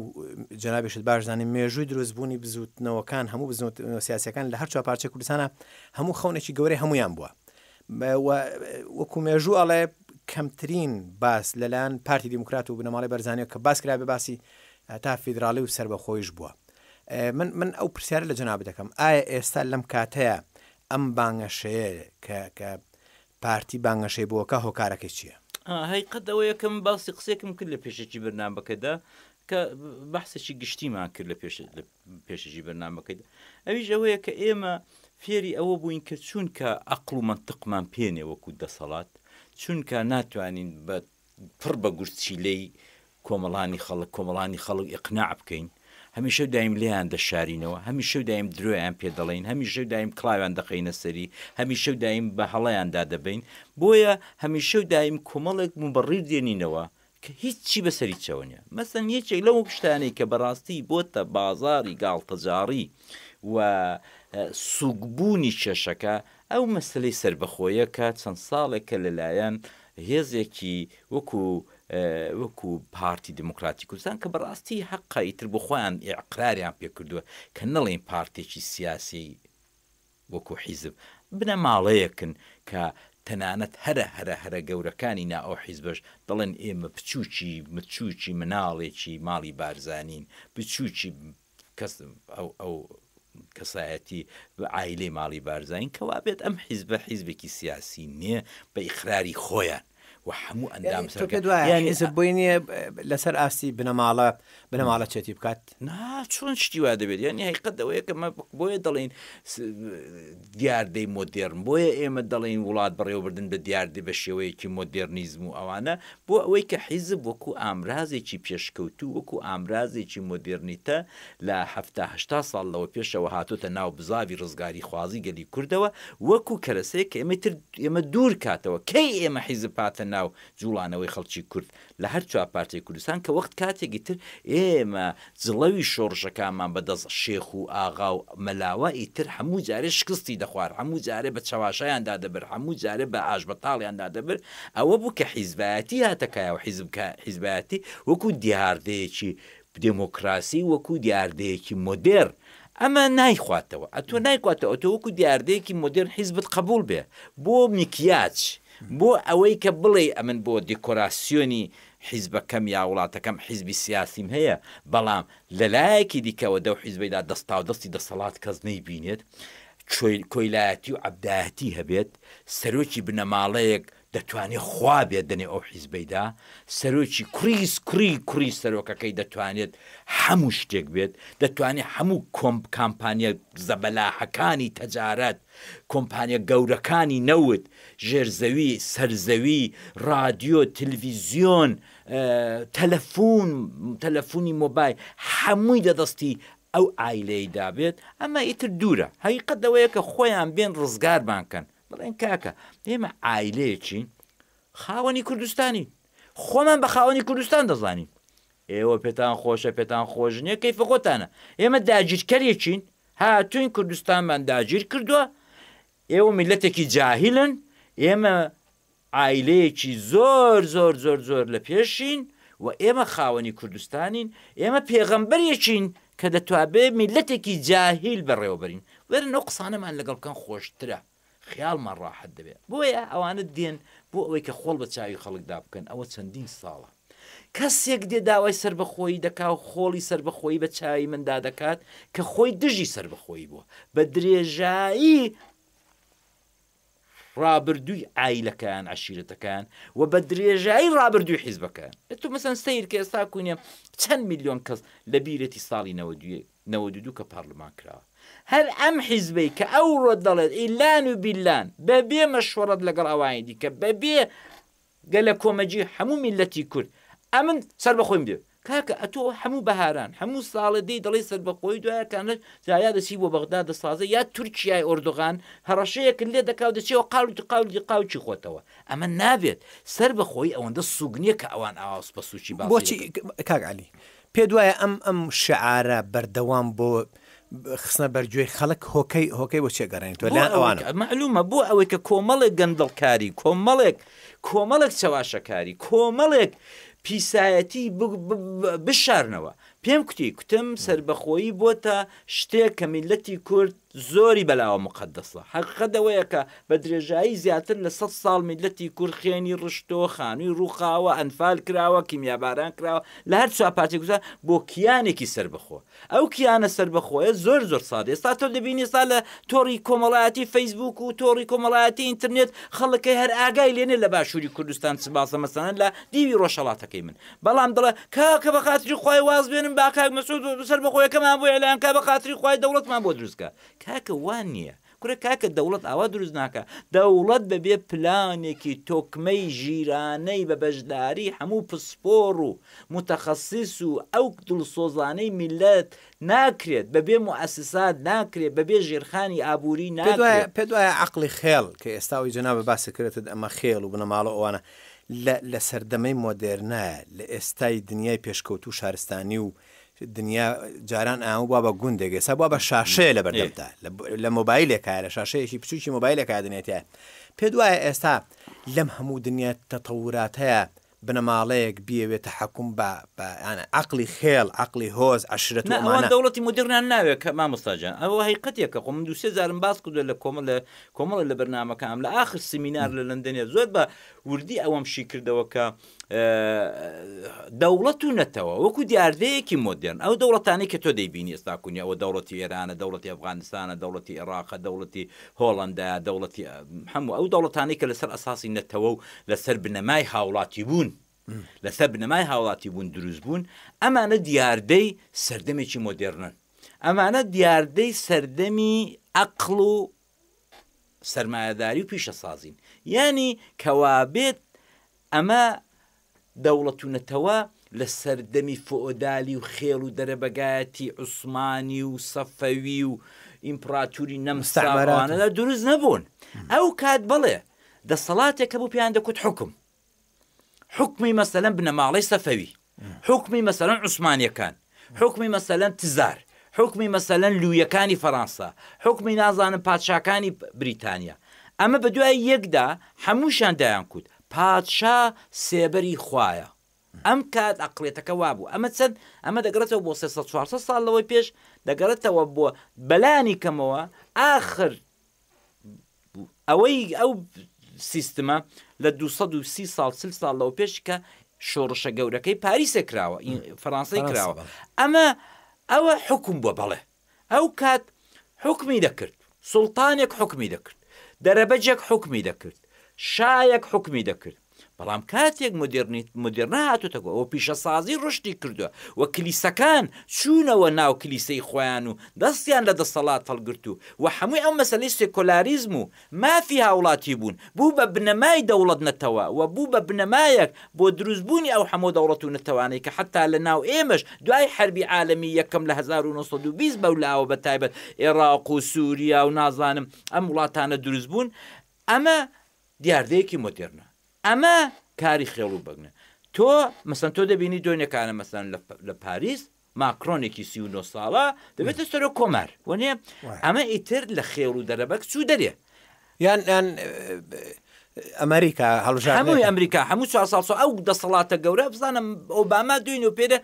جەنابیشت باش زانین مێژووی دروستبوونی بزوتنەوەکان هەموو بزنەوە سیاسەکان لە هەر چوار پارچە کوردستانە هەموو خەونێکی گەورەی هەمویان بووە وەکو مێژوو ئەڵێ کەمترین باس لەلاەن پارتی دیموکرات و بنەماڵی بەرزانانی کە باس کرابێ باسی تا فیدراالی و سربەخۆیش بووە من من ئەو پرسیار لە جناب دەکەم ئایا ئێستا لەم کاتەیە ئەم بانگەشەیە کە پارتی بانگەشەی بۆکا هۆکارەکەی چیە؟ هەقیقەت ئەوەیە کە من باسی قسەیەکم کرد لە پێشەکی بەرنامەکەدا کە بەحسێکی گشتیمان کرد لە پێش لە پێشەکی بەرنامەکەدا ئەویش ئەوەیە کە ئێمە فێری ئەوە بووین کە چونکە ئەقل و منطقمان پێنێ وەکو دەسەڵات چونکە ناتوانین بە پڕ بە گورچیلەی کۆمەڵانی خەڵک، کۆمەڵانی خەڵک ئیقناع بکەین، هەمیشە و دایم لێیان دەشارینەوە، هەمیشە و دایم درۆیان پێ دەڵێین، هەمیشە و دایم کڵاویان دەخەینە سەری، هەمیشە و دایم بە هەڵەیاندا دەبەین، بۆیە هەمیشە و دایم کۆمەڵێک موبەڕیر دێنینەوە کە هیچی بەسەریچەوە نیە. مەسەن یەکێک لەو شتانەی کە بەڕاستی بۆتە بازاڕی گاڵتەجاڕی و سووکبوونی کێشەکە، ئەو مەسەلەی سەربەخۆیە کە چەند ساڵێکە لەلایەن هێزێکی وەکو وەکو پارتی دیموکراتی کوردستان کە بەڕاستی حەقە ئیتر بۆ خۆیان ئیقراریان پێ کردووە کە نەڵێن پارتێکی سیاسی وەکو حیزب بنەماڵەیەکن کە تەنانەت هەرە هەرە هەرە گەورەکانی نا ئەو حیزبەش دەڵێن ئێمە بچووکی بچووکی مناڵێکی ماڵی بارزانین بچووکی کەس ئەو ئەو کەسایەتی بە عایلەی ماڵی بارزانین کەوابێت ئەم حیزبە حیزبێکی سیاسی نییە بە ئیقراری خۆیان و هەموو ئەندام سەرکە دوایانی بۆی نییە لەسەر ئاستی بنەماڵە بنەماڵە چێتی بکات نا چۆن شتیوا دەبێت یانی هەیقەت ئەوەیە کە بۆیە دەڵین دیاردەی مۆدێرن، بۆیە ئێمە دەڵێین وڵات بەڕێوەبردن بە دیاردەی بە شێوەیەکی مۆدێرنیزم و ئەوانە، بۆ ئەوەی کە حیزب وەکوو ئامرازێکی پێشکەوتوو، وەکوو ئامرازێکی مۆدێرنیتە لە حەفتا هەشتا ساڵ لەوە پێشەوە هاتۆتە ناو بزاڤی ڕزگاریخوازی گەلی کوردەوە، وەکوو کەرەسەیەک کە ئێمەی تر ئێمە دوور کاتەوە، کەی ئێمە حیزب هاتە ناو جووڵانەوەی خەڵکی کورد؟ لە هەر چوار پارچەی کوردستان کە وەخت کاتێکی تر ئێمە جڵەوی شۆڕشەکانمان بە دەست شێخ و ئاغا و مەلاوە ئیتر هەموو جارێ شکستی دەخوارد، هەموو جارێ بە چەواشەیان دادەبرد، هەموو جارێ بە ئاشبەتاڵیان دادەبرد، ئەوە بوو کە حیزبایەتی هاتە کایە و حیزب حیزبایەتی وەکوو دیاردەیەکی دێمۆکراسی، وەکوو دیاردەیەکی مۆدێرن ئەمە نایخواتەوە، ئەتۆ نایخواتەوە، ئەتۆ وەکوو دیاردەیەکی مۆدێرن حیزبت قەبووڵ بێ بۆ میکیاج، بۆ ئەوەی کە بڵێی ئەمن بۆ دیکۆراسیۆنی حیزبەکەم یا وڵاتەکەم حیزبی سیاسیم هەیە، بەڵام لە لایەکی دیکەوە دەو حیزبەیدا دەستاودەستی دەسەڵات کەس نەیبینێت، کۆیلایەتی و عەبدایەتی هەبێت، سەرۆکی بنەماڵەیەک دەتوانێ خوا بێت دەنێو ئەو حیزبەیدا، سەرۆکی کوڕیس کوڕی کوڕی سەرۆکەکەی دەتوانێت هەموو شتێک بێت، دەتوانێ هەموو کۆمپ کامپانیا زەبەلاحەکانی تەجارەت، کۆمپانیا گەورەکانی نەوت، ژێرزەوی، سەرزەوی، ڕادیۆ، تلویزیۆن، تەلەفون، تەلەفونی مۆبایل، هەمووی لە دەستی ئەو عایلەیدا بێت، ئەمە ئیتر دوورە، هەقیقەت لەوەیە کە خۆیان بێن ڕزگارمان کەن، بڵێن کاکە ئێمە عایلەیەکین خاوەنی کوردستانین، خۆمان بە خاوەنی کوردستان دەزانین، ئێوە پێتان خۆشە پێتان خۆش نییە کەیفە خۆتانە، ئێمە داگیرکەرێکین هاتوین کوردستانمان داگیر کردوە ئێوە میلەتێکی جاهیلن ئێمە عایلەیەکی زۆر زۆر زۆر زۆر لە پێشین و ئێمە خاوەنی کوردستانین ئێمە پێغەمبەرێکین کە دەتوابێ میلەتێکی جاهیل بەڕێوەبەرین وەرن ئەو قسانەمان لەگەڵ بکەن خۆشترە خەیاڵمان ڕاحەت دەبێت بۆیە ئەوانە دێن بۆ ئەوەی کە خۆڵ بە چاوی خەڵکدا بکەن ئەوە چەندین ساڵە کەسێک دێ داوای سربەخۆیی دەکا و خۆڵی سربەخۆیی بە چاوی مندا دەکات کە خۆی دژی سربەخۆیی بووە بە درێژایی ڕابردووی ئایلەکان عشیرەتەکان و بە درێژایی ڕابردووی حیزبەکان تو مەسەن سیر کە ئێستا کوینە چەند میلیۆن کەس لە بیرەتی ساڵی نەوە دوێ نەوەد و دوو کە پارلمان کراوە هەر ئەم حیزبەی کە ئەوڕۆ دەڵێت ئیللان و بیللان بەبێ مەشوەڕەت لەگەڵ ئەوانی دیکە بەبێ گەلەکۆمەگی هەموو میللەتی کورد ئەمن سەربەخۆیم دێ کاکە ئەتۆ هەموو بەهاران هەموو ساڵێ دێی دەڵێی سەربەخۆی دوایەکانە جایا دەچی بۆ بەغدا دەسازە یا تورکیای ئۆردوغان هەڕەشەیەکن لێ دەکاو دەچێەوە قاول قاولی قاوچی خۆتەوە ئەمە نابێت سەربەخۆی ئەوەندە سوگنیە کە ئەوان ئاواز بە سوچی باسی بۆچی دەکەن. کاک علی پێت وایە ئەم ئەم شعارە بەردەوام بۆ خستنە بەرگوێی خەڵک هۆکەی هۆکەی بۆ چێگەڕێن تۆ لە ئەوانە معلومە بۆ ئەوەی کە کۆمەڵێک گەندڵکاری کۆمەڵێک کۆمەڵێک چەواشەکاری کۆمەڵێک پیسایەتی بشارنەوە پێم کوتی کوتم سربەخۆیی بۆتە شتێک کە میلەتی کورد زۆری بەلاوە موقەدەسە. هەقیقەت ئەوەیە کە بە درێژایی زیاتر لە سەد ساڵ میللەتی کورد خوێنی ڕشتووە، خانووی ڕووخاوە، ئەنفال کراوە، کیمیاباران کراوە لە هەر چوار پارچەی کوردستان بۆ کیانێکی سەربەخۆ. ئەو کیانە سەربەخۆیە زۆر زۆر سادە. ئێستا تۆ دەبینی ئێستا لە تۆڕی کۆمەڵایەتی فەیسبووک و تۆڕی کۆمەڵایەتی ئینترنێت خەڵک هەر ئاگای لێ نیە لە باشووری کوردستان چ باسە مەسەلەن لە دیوی ڕۆژهەڵاتەکەی من بەڵام دەڵێ کاکە بەخاتری خوای واز بێنن با کاک مەسعود سەربەخۆیەکەمان بۆ ئێلان کا بەخاتری خوای دەوڵەتمان بۆ دروست کا کاکە وان نییە کورە کاکە دەوڵەت ئاوا دروست ناکە دەوڵەت بەبێ پلانێکی تۆکمەی ژیرانەی بە بەشداری هەموو پسپۆڕ و متەخەسیس و ئەو دڵسۆزانەی میللەت ناکرێت بەبێ موئەسسات ناکرێت بەبێ ژێرخانی ئابووری ناکرێت. پێت وایە عەقڵی خێڵ کە ئێستا ئەوەی جەنابت باسی کردت ئەمە خێڵ و بنەماڵە و ئەوانە لە لە سەردەمەی مۆدێرنە، لە ئێستای دنیای پێشکەوتوو شارستانی و دنیا جاران ئامە بووە بە گوندێک، ئێستا بووە بە شاشەیە لە بەردەمتا، لە مۆبایلێکایە، لە شاشەیەکی بچووکی مۆبایلێکایە دنیا تێیایە. پێت وایە ئێستا لەم هەموو دنیا تەتەوراتەیە بنەماڵەیەک بیەوێت تەحەکوم بە بە یانە عەقڵی خێڵ، عەقڵی هۆز، عەشرەت و نا، ئەوان ئەمانە. دەوڵەتی مۆدێرنیان ناوێت کە مامۆستا جان، ئەوە هەیقەتێکە، خۆ من دوو سێ جارم باس کردووە لە کۆمە لە کۆمەڵێ لە بەرنامەکەم لە ئاخر سمینار لە لەندەنێ زۆر بە وردی ئەوەم شی کردەوە کە دەوڵەت و نەتەوە وەکو دیاردەیەکی مۆدرن ئەو دەوڵەتانی کە تۆ دەیبینی ئێستا کونی ئەوە دەوڵەتی ئێرانە دەوڵەتی ئەفغانستانە دەوڵەتی عێراقە دەوڵەتی هۆڵندا دەوڵەتی هەموو ئەو دەوڵەتانی کە لەسەر ئەساسی نەتەوە و لەسەر بنەمای هاوڵاتی بوون لەسەر بنەمای هاوڵاتیبوون دروست بوون، ئەمانە دیاردەی سەردەمێکی مۆدێڕنن، ئەمانە دیاردەی سەردەمی عەقڵ و سەرمایەداری و پیشەسازین، یانی کەوابێت ئەمە دەوڵەت و نەتەوە لە سەردەمی فۆئۆدالی و خێڵ و دەرەبەگایەتی عوسمانی و سەفەوی و ئیمپڕاتوری نەمساوانەدا دروست نەبوون، ئەو کات بەڵێ دەسەڵاتێکە بوو پێیان دەکوت حوکم. حکومی مەسەلەن بنەماڵەی سەفەوی حکومی مەسەلەن عوسمانیەکان حکومی مەسەلەن تزار حکومی مەسەلەن لویەکانی فەرانسا حکومی نازانم پادشاکانی بریتانیا ئەمە بە دوای یەکدا هەمووشان دایان کوت پادشا سێبەری خوایە ئەم کات ئەقلێتەکە وابوو ئەمە چەند ئەمە دەگەڕێتەوە بۆ 300 سال لەوەی پێش دەگەڕێتەوە بۆ بەلانی کەمەوە ئاخر ئەوەی ئەو سیستمە لە 230 سال سل سال لەو پێش کە شۆڕشە گەورەکەی پاریسە کراوە فەرانسی کراوە ئەمە ئەوە حکم بووە بەڵێ ئەو کات حکمی دەکرد سلتانێک حکمی دەکرد دەرەبەجێک حکمی دەکرد شایەک حکمی دەکرد بەڵام کاتێک مدرنیت مدرنە هاتوتەگۆ ئەوە پیشەسازی ڕشتی کردووە و کلیسەکان چوونەوە ناو کلیسەی خۆیان و دەستیان لە دەسەڵات هەڵگرت و و هەمووی ئەو مەسلەی سێکۆلاریزم و مافی هاوڵاتی بوون بوو بە بنەمای دەوڵەت نەتەوە و بوو بە بنەمایەک بۆ دروست بوونی ئەو هەمۆ دەوڵەت و نەتەوانەی کە حەتا لە ناو ئێمەش دوای حەربی عالەمی یەکەم لە هەزار و نۆ سەد و بیست بەولاوە بە تایبەت ئێڕاق و سوریا و نازانم ئەم وڵاتانە دروست بوون ئەمە دیاردەیەکی مۆدێرنە ئەمە کاری خێڵ و بەگنە تۆ مەسەن تۆ دەبینی دۆنێکانە مەسەن لە پاریس ماکرۆنێکی سی و نۆ ساڵە دەبێتە سەرۆک کۆمار وەنێ ئەمە ئیتر لە خێڵ و دەرەبەگ چوو دەرێ یان یان ئەمریکا هەڵژ هەمووی ئەمریکا هەموو چوار ساڵ ئەو دەسەڵاتە گەورە بزانم ئۆباما دوین و پێرە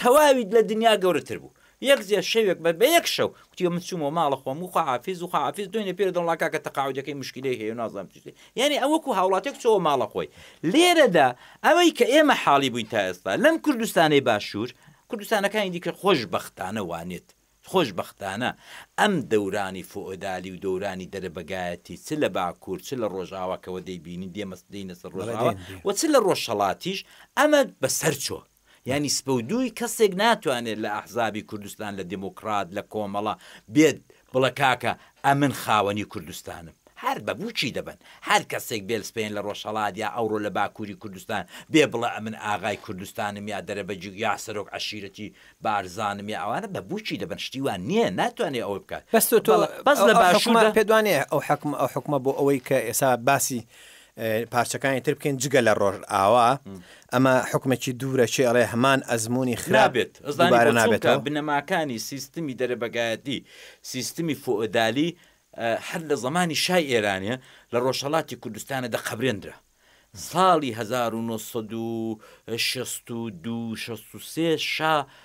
تەواویت لە دنیا گەورەتر بوو. یەک جێ شەوێک بە بەیەک شەو گوتی من چوومەوە ماڵە خۆم و خواحافیز و خواحافیز دوێنێ پێرێ دەڵێم وڵا کاکە تەقاعودەکەی موشکیلەی هەیە و نازانم چی شتێ یانی ئەو وەکوو هاوڵاتیەک چۆوە ماڵە خۆی لێرەدا ئەوەی کە ئێمە حاڵی بووین تا ئێستا لەم کوردستانەی باشوور کوردستانەکانی دیکە خۆشبەختانە وانێت خۆشبەختانە ئەم دەورانی فۆئۆدالی و دەورانی دەرەبەگایەتی چ لە باکوور چ لە ڕۆژاواکەوە دەیبینین دێمە دێینە سەر ڕۆژاوا و چ لە ڕۆژهەڵاتیش ئەمە بەسەر چۆ یانی سپە و دووی کەسێک ناتوانێت لە ئەحزابی کوردستان لە دیموکرات لە کۆمەڵە بێت بڵێ کاکە ئەمن خاوەنی کوردستانم هەر بە بووکی دەبەن هەر کەسێک بێل سپێن لە ڕۆژهەڵات یا ئەوڕۆ لە باکووری کوردستان بێ بڵێ ئەمن ئاغای کوردستانم یا دەرەبەگ یا سەرۆک عەشیرەتی بارزانم یا ئەوانە بە بووکی دەبەن شتی وان نییە ناتوانێت ئەوە بکات بەس تۆ تۆ بەڵێ بەس لە ئەو حوکمە باشووردا پێت وانییە ئەو حەکم ئەو حوکمە بۆ ئەوەی کە ئێستا باسی پارچەکانی تر بکەین جگە لە ڕۆژئاوا ئەمە حکومێکی دوورە چێ ئەڵێ هەمان ئەزمموی خراپێت نابێت بنەماکانی سیستمی دەرەبگایەتی سیستمی فۆدالی هەر لە زمانی شای ئێرانە لە ڕۆژهڵاتی کوردستانە دە قبرێنرا ساڵی 1960 شا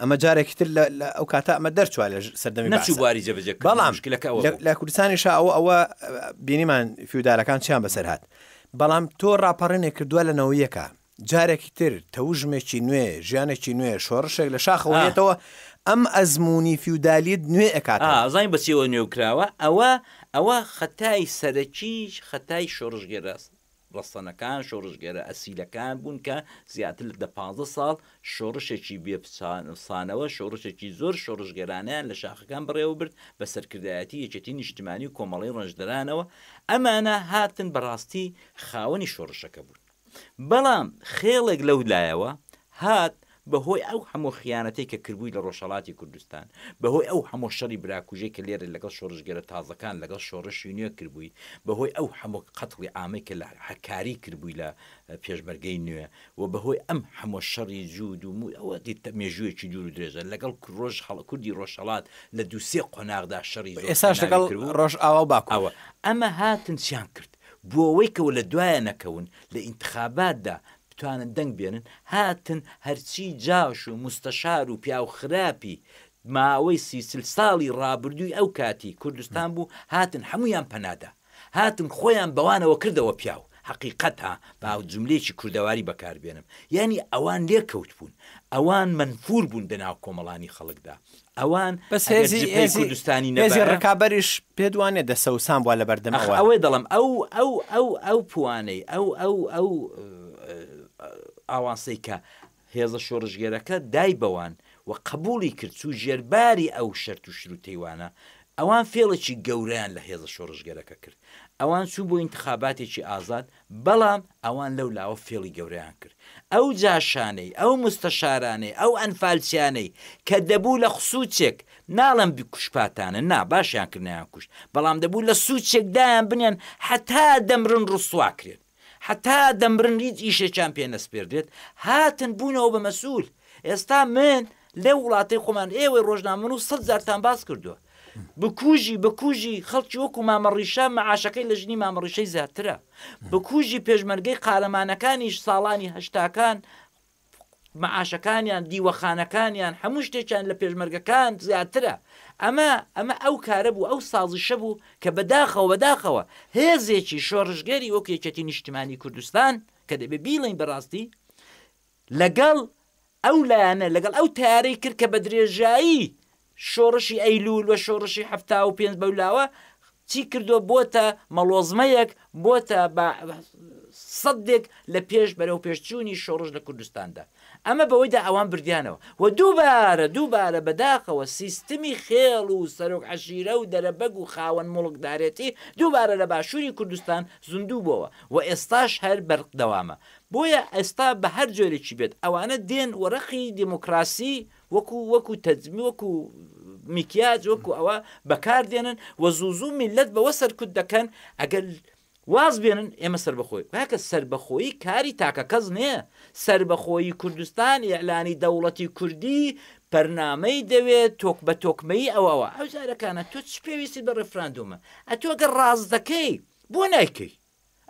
ئەمە جارێکی تر لە ئەو کاتە ئەمە دەرچوە لە سەردەمی نەچوو بواری جەبجە بەڵام لە کوردستانی شا ئەوە ئەوە بینیمان فیودالەکان چیان بەسەر هاات بەڵام تۆ ڕاپەڕێنێک کردووە لە نەوەیەکە جارێکی تر تەوژمێکی نوێ ژیانێکی نوێ شۆڕشێک لە شاخەوەێتەوە ئەم ئەزمموی فیودالیت نوێ ئەکات ئازای بەچیەوە نوێوکراوە ئەوە ئەوە خەتای سەرەکیش خەتای شۆڕژگەراست ڕەسەنەکان شۆڕشگێرە ئەسیلەکان بوون کە زیاتر لە دە پازدە ساڵ شۆڕشێکی بێ پسانەوە شۆڕشێکی زۆر شۆڕشگێرانەیان لە شاخەکان بەڕێوەبرد بە سەرکردایەتی یەکێتی نیشتمانی و کۆمەڵەی ڕەنجدەرانەوە ئەمانە هاتن بەڕاستی خاوەنی شۆڕشەکە بوون بەڵام خێڵێک لەو لایەوە هات بە هۆی ئەو هەموو خیانەتەی کە کربووی لە ڕۆژهەڵاتی کوردستان، بە هۆی ئەو هەموو شەڕی براکوژەی کە لێرە لەگەڵ شۆڕشگێرە تازەکان، لەگەڵ شۆڕشی نوێ کربووی، بە هۆی ئەو هەموو قەتڵی عامەی کە لە هەکاری کربووی لە پێشمەرگەی نوێ و بە هۆی ئەم هەموو شەڕی جووت و مووت، ئەوە دیت مێژوویەکی دوور و درێژە، لەگەڵ ڕۆژهەڵ، کوردی ڕۆژهەڵات لە دوو سێ قۆناغدا شەڕی زۆر خوێناوی کربوو. ئێساش لەگەڵ ڕۆژئاوا و باکوور. ئەوە، ئەمە هاتن چیان کرد؟ بۆ ئەوەی کەو لە دوایە نەکەون لە ئینتخاباتدا بتوانن دەنگ بێنن هاتن هەرچی جاش و موستەشار و پیاو خراپی ماوەی سی چل ساڵی ڕابردووی ئەو کاتی کوردستان بوو هاتن هەمویان پەنادا هاتن خۆیان بەوانەوە کردەوە پیاو حقیقەتە با جملەیەکی کوردەواری بەکاربێنم یانی ئەوان لێکەوت بوون ئەوان منفور بوون دەناو کۆمەڵانی خەڵکدا ئەوان بەس ئەگەر هێزی جبهەی هێزی کوردستانی هێزی نەبایە ڕکابەریش پێت وانیە دەسەوسان بووە لەبەردەم ئەخ ئەوان. ئەوەی دەڵێم ئەو ئەو ئەو ئەو پوانەی ئەو ئەو ئەو ئە، ئاوانسەی کە هێزە شۆڕشگێرەکە دای بەوان و قەبووڵی کرد چوو ژێر باری ئەو شەرت و شرووتەی وانە ئەوان فێڵێکی گەورەیان لە هێزە شۆڕشگێرەکە کرد ئەوان چوو بۆ ئینتخاباتێکی ئازاد بەڵام ئەوان لەو لاوە فێڵی گەورەیان کرد. ئەو جاشانەی، ئەو موستەشارانەی، ئەو ئەنفالچیانەی کە دەبوو لە خسوچێک، ناڵێم کوشپاتانە نا، باشیان کرد نەیانکوشت، بەڵام دەبوو لە سوچێک دایان بنێن هەتا دەمرن ڕسوا کرێن، هەتا دەمرن هیچ ئیشێکیان پێ نەسپێردرێت، هاتن بوونەوە بە مەسئول. ئێستا من لەو وڵاتەی خۆمان، ئێوەی ڕۆژنامەنووس سەد جارتان باس کردووە. بکوژی بکوژی خەڵکی وەکو مامەڕیشە معاشەکەی لە ژنی مامەڕیشەی زیاترە بکوژی پێشمەرگەی قارەمانەکانیش ساڵانی هەشتاکان معاشەکانیان دیوەخانەکانیان هەموو شتێکیان لە پێشمەرگەکان زیاترە ئەمە ئەمە ئەو کارە بوو ئەو سازیشە بوو کە بەداخەوە بەداخەوە هێزێکی شۆڕژگەری وەکێکێتی نیشتمانی کوردستان کە دەبێ بیڵین بەڕاستی لەگەڵ ئەو لایەنە، لەگەڵ ئەو تەیارەی کرد کە بە درێژایی شۆڕشی ئەیلوول و شۆڕشی حەفتا و پێنج بەولاوە چی کردووە، بۆتە مەڵۆزمەیەک، بۆتە بە سەدێک لە پێش بەرەو پێشچوونی شۆڕش لە کوردستاندا. ئەمە بەوەیدا ئەوان بردیانەوە و دووبارە دووبارە بەداخەوە سیستمی خێڵ و سەرۆک عەشیرە و دەرەبەگ و خاوەن موڵکدارێتی دووبارە لە باشووری کوردستان زیندوو بۆوە و ئێستاش هەر بەردەوامە. بۆیە ئێستا بە هەر جۆرێکی بێت ئەوانە دێن و رەقی دیموکراسی وەکو وەکو تەجمی وەکو میکیاج وەکو ئەوە بەکاردێنن و زوو زوو میلەت بەوە سەرکوت دەکەن ئەگەر واز بێنن ئێمە سربەخۆی کاکە سربەخۆیی کاری تاکە کەس نییە سربەخۆیی کوردستان ئیعلانی دەوڵەتی کوردی پەرنامەی دەوێت تۆک بە تۆکمەی ئەوەوە ئەو جارەکانە تۆ چ پێویستی بە ڕفراندۆمە ئەتۆگە ڕاست دەکەی بۆ نایکەی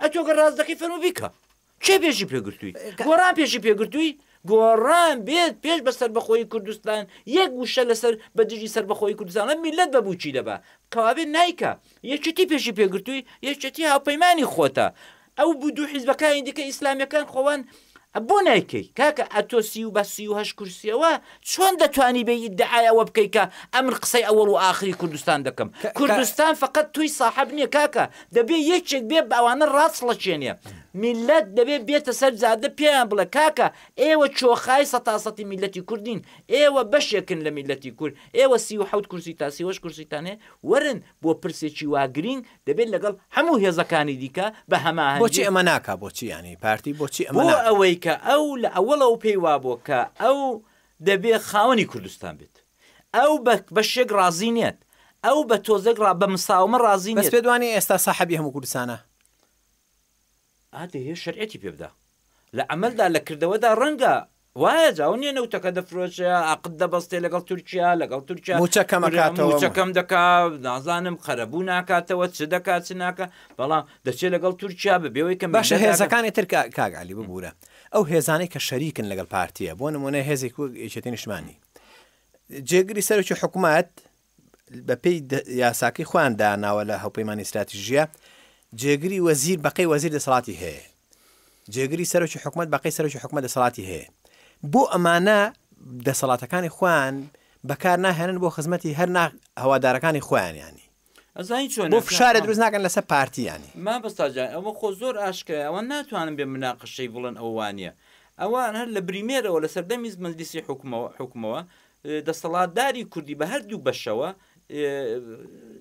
ئە تۆ گە ڕاست دەکەی فەرمو بیکە کێ پێشی پێگرتووی گۆڕان پێشی پێگرتووی گۆڕان بێت پێش بە سربەخۆی کوردستان یەک وشە لەسەر بە دژی سربەخۆی کوردستانە میلەت بە بچی دەبا کەوابێت نایکە یەکێتی پێشی پێگرتووی یەکێتی هاوپەیمانی خۆتە ئەو بوو دوو حیزبەکانی دیکە ئیسلامیەکان خۆوان ئە بۆ نایکەی کاکە ئە تۆ سی و بە سی و هەشت کورسیەوە چۆن دەتوانی بێی ئیدعای ئەوە بکەی کە ئە من قسەی ئەوەڵ و ئاخری کوردستان دەکەم کوردستان فەقەت تۆی ساحەب نیە کاکە دەبێ یەکێک بێ بە ئەوانە ڕاچڵەچێنێ میللەت دەبێ بێتە سەر جادە پێیان بڵێ کاکە ئێوە چۆخای سەتا سەتی میللەتی کورد نین ئێوە بەشێکن لە میللەتی کورد ئێوە سی و حەوت کورسی تا سی و هەشت کورسیتان هەیە وەرن بۆ پرسێکی وا گرینگ دەبێت لەگەڵ هەموو هێزەکانی دیکە بە هەماهەنگی. بۆچی ئەمە ناکا بۆچی یانی پارتی بۆچی ئەمە ناکا؟ بۆ ئەوەی کە ئەو لە ئەوەڵەوە پێی وابووە کە ئەو دەبێ خاوەنی کوردستان بێت. ئەو بە بەشێک ڕازی نیت. ئەو بە تۆزێک ڕا بە مساومە ڕازی نیت. بەس پێت وانیە ئێستا ساحەبی هەموو کوردستانە؟ ئا دەیێ شەرعێتی پێ بدا. لە عەمەلدا لە کردەوەدا ڕەنگە وایە جا ئەو نیە نەوتەکە دەفرۆشێ عەقد دەبەستێ لەگەڵ تورکیا لەگەڵ تورکیا موچە کەم کورە ئەکاتەوە موچە کەم دەکا نازانم قەرەبوو ناکاتەوە چ دەکات چ ناکە بەڵام دەچێت لەگەڵ تورکیا بە بێەوەی کە باشە میلەت ئاگا- هێزەکانی تر کا- کاک علی ببورە ئەو هێزانەی کە شەریکن لەگەڵ پارتیە بۆ نمونە هێزێک وەک یەکێتی نیشتمانی جێگری سەرکی حکومەت بەپێی یاساکەی خۆیان داناوە لە هەوپەیمانی استراتیژیە جێگری وەزیر بەقەی وەزیر دەسەڵاتی هەیە جێگری سەرۆکی حکومت بەقەی سەرۆکی حکومە دەسەڵاتی هەیە بۆ ئەمانە دەسەڵاتەکانی خوان بەکار ناهێنن بۆ خزمەتی هەر هەوادارەکانی خۆیان ینی ئەزانی چۆن بۆ فشارە دروست ناکەن لەسەر پارتیانی ما بەستاجان ئەوە خۆ زۆر ئاشکرای ئەوە ناتوانن بێ مناقەشەی بڵێن ئەوانە ئەوان هەر لە بریمێرەوە لە سەردەمی مەجلیسی حکومەوە حکومەوە دەستەڵاتداری کوردی بە هەردوو بەشەوە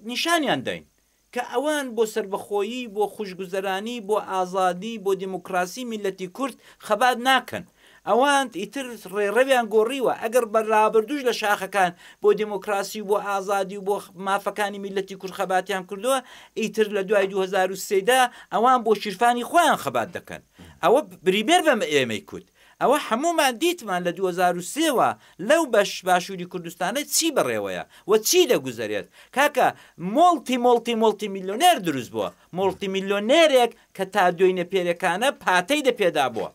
نیشانیان داین کە ئەوان بۆ سەربەخۆیی بۆ خوشگوزەرانی بۆ ئازادی بۆ دیموکراسی میلەتی کورد خەبات ناکەن ئەوان ئیتر ڕێڕەویان گۆڕیوە ئەگەر بە رابردوش لە شاخەکان بۆ دموکراسی و بۆ ئازادی و بۆ مافەکانی میلەتی کورد خەباتیان کردووە ئیتر لە دوای 2023دا ئەوان بۆ شیرفانی خۆیان خەبات دەکەن ئەوە بریبێر بەم ئێمەی کورد ئەوە هەموومان دیتمان لە دوو هەزار و سێ وە لەو بەش باشوری کوردستانە چی بەڕێوەیە و چی دەگوزەرێت کاکە مۆڵتی مۆڵتی مۆڵتی میلۆنێر دروست بووە مۆڵتی میلۆنێرێک کە تا دۆینە پێرێکانە پاتەی دە پێدا بووە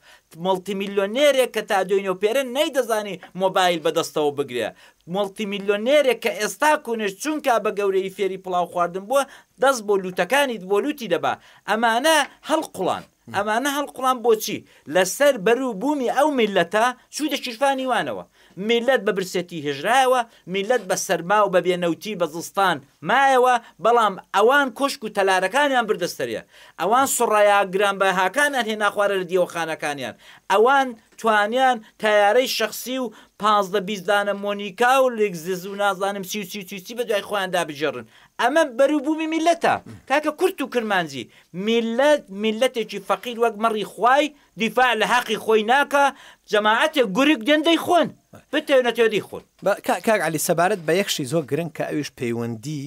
مۆڵتی میلۆنێرێک کە تا دۆینەو پێرە نەیدەزانی مۆبایل بە دەستەوە بگرێ مۆڵتی میلۆنێرێک کە ئێستا کونێش چونکا بە گەورەیی فێری پڵاو خواردن بووە دەست بۆ لووتەکانی بۆ لووتی دەبا ئەمانە هەڵقوڵان. ئەمانە هەڵقوڵان بۆچی لەسەر بەرو بوومی ئەو میللەتە چوویتە شیرفانی وانەوە میللەت بە برسێتی هێژرایەوە میللەت بە سەرما و بە بێ نەوتی بە زستان مایەوە بەڵام ئەوان کۆشک و تەلارەکانیان بردە سەرێ ئەوان سڕەیا گران بەهاکانیان هێنا خوارە لە دیوەخانەکانیان ئەوان توانیان تەیارەی شەخسی و پازدە بیست دانە مۆنیکا و لێکزس و نازانم چی و چی و چی و چی بە دوای خۆیاندا بگێڕن ئەمە بەروبومی میلەتە کاکە کورت و کرمانجی میلەت میلەتێکی فەقیر وەک مەڕی خوای دیفاع لە هەقی خۆی ناکا جەماعەتێک گورگ دێن دەیخۆن بتەوێ نەتەوێ دەیخۆن. با کا کاک عەلی سەبارەت بە یەک شی زۆر گرنگ کە ئەویش پەیوەندی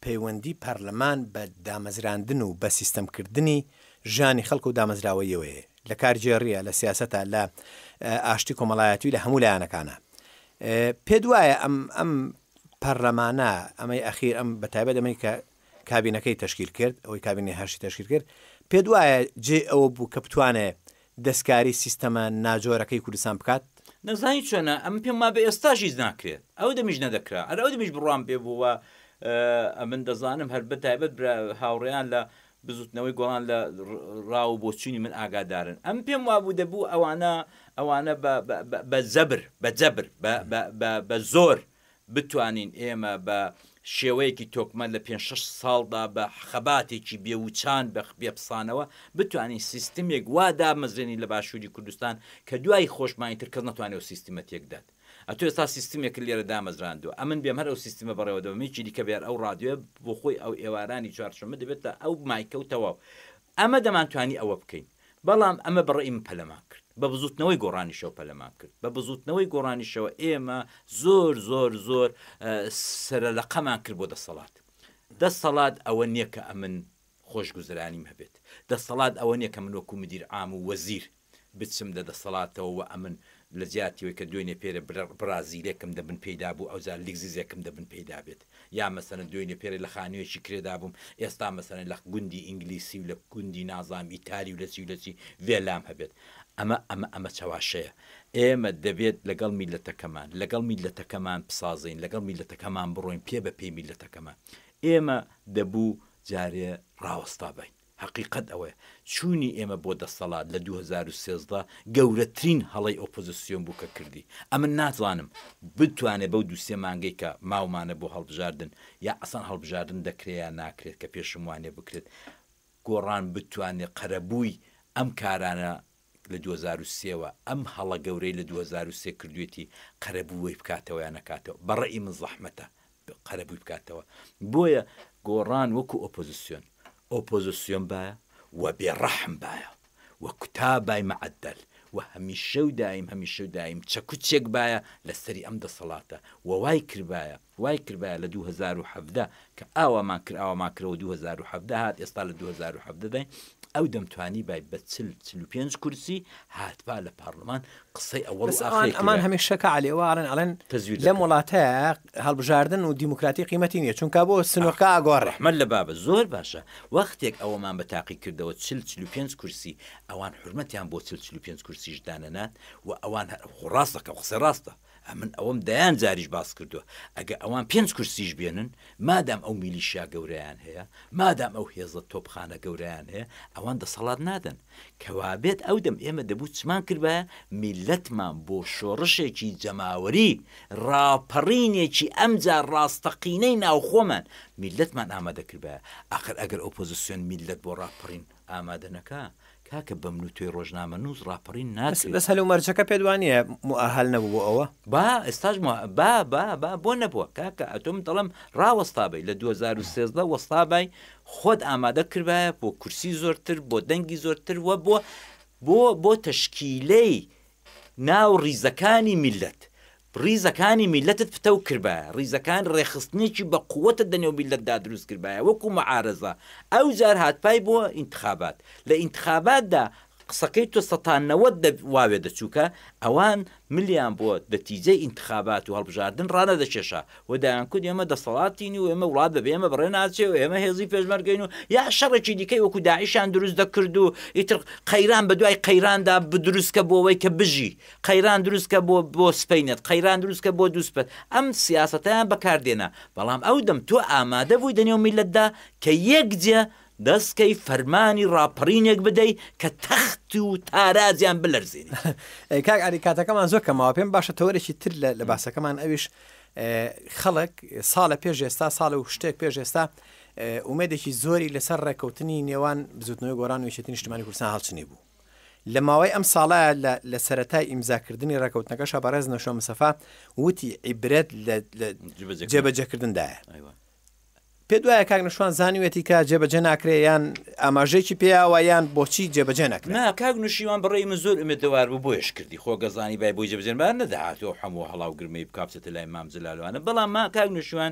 پەیوەندی پەرلەمان بە دامەزراندن و بە سیستەم کردنی ژیانی خەڵک و دامەزراوەیەوەیە لە کارگێڕیە لە سیاسەتە لە ئاشتی کۆمەڵایەتی لە هەموو لایەنەکانە پێت وایە ئەم ئەم پەرلەمانە، ئەمەی ئەخیر ئەم بە تایبەت ئەمەی کە کابینەکەی تەشکیل کرد، ئەوەی کابینەی هەشتی تەشکیل کرد، پێت وایە جێی ئەوە بوو کە بتوانێ دەستکاری سیستەمە ناجۆرەکەی کوردستان بکات؟ نەزانی چۆنە، ئەمن پێم وابێ ئێستاش هیچ ناکرێت، ئەو دەمیش نەدەکرا، هەر ئەو دەمیش بڕوام پێ بوو و ئەمن دەزانم هەر بە تایبەت برا هاوڕێیان لە بزوتنەوەی گۆڕان لە ڕا و بۆچونی من ئاگادارن ئەم پێم وابوو دەبوو ئەوانە ئەوانە بە بە زەبر بە جەبر بە بە بە زۆر بتوانین ئێمە بە شێوەیەکی تۆکمە لە پێ شش ساڵدا بە خەباتێکی بێوچان بە بێپسانەوە بتوانین سیستمێک وا دامەزرێنی لە باشووری کوردستان کە دوای خۆشمانی تر کەس نەتوانێت سیستمە تێکدات ئەتو ئێستا سیستمێکت لێرە دامەزراندوە ئەمن بێم هەر ئەو سیستمە بەڕێوە دەبەم هیچی دیکە بێر ئەو ڕادیۆیە بۆ خۆی ئەو ئێوارانی چوارشەمە دەبێت تا ئەو مایکە و تەواو ئەمە دەمانتوانی ئەوە بکەین بەڵام ئەمە بەڕێی من پەلەمان کرد بە بزوتنەوەی گۆڕانیشەوە پەلەمان کرد بە بزوتنەوەی گۆڕانیشەوە ئێمە زۆر زۆر زۆر سەرەلەقەمان کرد بۆ دەسەڵات دەسەڵات ئەوە نییە کە ئەمن خۆشگوزرانیم هەبێت دەسەڵات ئەوە نییە کە من وەکو مدیر عام و وەزیر بچم لە دەسەڵاتەوە وە ئەمن لە جیاتی وەی کە دوێنێ پێرێ بڕا زیرەکم دەبن پێیدا بوو ئەوجا لگزیزەکم دەبن پێیدا بێت یا مەسەلەن دوێنێ پێرێ لە خانویەکی کرێدا بووم ئێستا مەسەلەن لە گوندی ئینگلیسی و لە گوندی نازانم ئیتاری و لە چی و لە چی ڤێلام هەبێت ئەمە ئەمە ئەمە چەواشەیە ئێمە دەبێت لەگەڵ میللەتەکەمان لەگەڵ میللەتەکەمان بسازین لەگەڵ میللەتەکەمان بڕۆین پێ بە پێی میللەتەکەمان ئێمە دەبوو جارێ ڕاوەستا باین. هەقیقەت ئەوەیە چوونی ئێمە بۆ دەستەڵات لە دوو هەزار و سێزدە گەورەترین هەڵەی ئۆپۆزسیۆن بوو کە کردی، ئەمن نازانم بتوانێت بەو دوو سێ مانگەی کە ماومانە بۆ هەڵبژاردن یا ئەسڵەن هەڵبژاردن دەکرێت یا ناکرێت کە پێشم وانیە بکرێت گۆڕان بتوانێت قەرەبووی ئەم کارانە لە دوو هەزار و سێ وە ئەم هەڵە گەورەی لە دوو هەزار و سێ کردوێتی قەرەبووەی بکاتەوە یا نەکاتەوە بەڕەئی من زەحمەتە قەرەبووی بکاتەوە بۆیە گۆڕان وەکو ئۆپۆزسیۆن ئۆپۆزسیۆن بایە وە بێڕەحم بایە وە کوتابای مەعەدەل وە هەمیشە و دایم هەمیشە و دایم چەکوچێک بایە لەسەری ئەم دەسەڵاتە وە وای کردبایە وای کردبایە لە دوو هەزار و حەڤدە کە ئاوامان کرد ئاوامان کردەوە دوو هەزار و حەڤدە هات ئێستا لە دوو هەزار و حەڤدە داین ئەو دەمتوانیبای بە چل چل و پێنج کورسی هاتبا لە پارڵمان قسەی ئەوەڵ و بەس ئاخری ئەوان ئەمان کردبا هەمیشە کە عەلی ئەوە ئەڵێن ئەڵێن تەزویر لەم دەکەن وڵاتە هەڵبژاردن و دیموکراتی قیمەتی نییە چونکا بۆ ئاخ سنوورکە ئاگۆڕێ ڕەحمەت لە بابت زۆر باشە وەختێک ئەوەمان بە تاقی کردەوە چل چل و پێنج کورسی ئەوان حورمەتیان بۆ چل چل و پێنج کورسیش دانەنات و ئەوان هە خۆ ڕاستەکەم قسە ڕاستە ئەمن ئەوەم دەیان جاریش باس کردووە، ئەگە ئەوان پێنج کورسیش بێنن، مادام ئەو میلیشیا گەورەیان هەیە، مادام ئەو هێزە تۆپخانە گەورەیان هەیە، ئەوان دەسەڵات نادەن. کەوابێت ئەو دەم ئێمە دەبوو چمان کردبایە میللەتمان بۆ شۆڕشێکی جەماوەری، ڕاپەڕینێکی ئەمجا ڕاستەقینەی ناوخۆمان، میللەتمان ئامادە کردبایە. ئاخر ئەگەر ئۆپۆزسیۆن میللەت بۆ ڕاپەڕین ئامادە نەکا کاکە بەمن و تۆی ڕۆژنامەنووس ڕاپەڕین ناکرێت. بەس هەل و مەرجەکە پێت وا نییە موئەهەل نەبوو بۆ ئەوە؟ با ئێستاش موئ با با با بۆ نەبووە کاکە ئەتۆ من دەڵێم ڕاوەستابەی لە دوو هەزار و سێزدە وەستابای خۆت ئامادە کردبایە بۆ کورسی زۆرتر بۆ دەنگی زۆرتر وە بۆ بۆ بۆ تەشکیلەی ناو ڕیزەکانی میللەت ڕیزەکانی میللەتت پتەو کردبایە، ڕیزەکان ڕێکخستنێکی بە قوتت لە نێو میللەتدا دروست کردبایە وەکو معارەزە، ئەوجار هاتبای بۆ ئینتخابات، لە ئینتخاباتدا قسەکەی تۆ سەتا نەوەد دە واوێ دەچوو کە ئەوان ملیان بۆ نەتیجەی ئینتخابات و هەڵبژاردن ڕانەدەکێشا و دەیانکوت ئێمە دەسەڵاتین و ئێمە وڵات بەبێ ئێمە بەڕێ ناچێ و ئێمە هێزی پێشمەرگەین و یا شەڕێکی دیکەی وەکو داعشیان دروست دەکرد و ئیتر قەیران بەدوای قەیراندا بدروست کە بۆ ئەوەی کە بژی قەیران دروست کە بۆ بۆ سپەینت قەیران دروست کە بۆ دوو سپەت ئەم سیاسەتەیان بەکار دێنا بەڵام ئەو دەم تۆ ئامادە بووی دەنێو میلەتدا کە یەک جێ دەست کەی فەرمانی ڕاپەڕینێک بدەی کە تەخت و تارازیان بلەرزێنی ئەی کاک علی کاتەکەمان زۆر کەماوە پێم باشە تەوەرێکی تر لە لە باسەکەمان ئەویش اه، خەڵک ساڵە پێش ئێستا ساڵ و شتێک پێش ئێستا اه، ئومێدێکی زۆری لەسەر ڕێککەوتنی نێوان بزوتنەوەی گۆران و یەکێتی نیشتمانی کوردستان هەڵچنی بوو لە ماوەی ئەم ساڵە لە لە سەرەتای ئیمزاکردنی ڕێکەوتنەکەشە بەڕێز نەشۆ مسەفا وتی عیبرەت لە لە جبەجێ جێبەجێکردندایە ئەیوە پێت وایە کاک نەشوان زانیوێتی کە جێبەجێ ناکرێ یان ئاماژەیەکی پێیاوە یان بۆچی جێبەجێ نەکرێ نا کاک نوشیوان بڕێی من زۆر ئومێدەوار بوو بۆیش کردی خۆ گەزانی بای بۆی جەبجەنبار نەدەهاتەوە هەموو هەڵاو گرمەی بکا بچێتە لای مام جلالوانە بەڵام ما کاک نوشیوان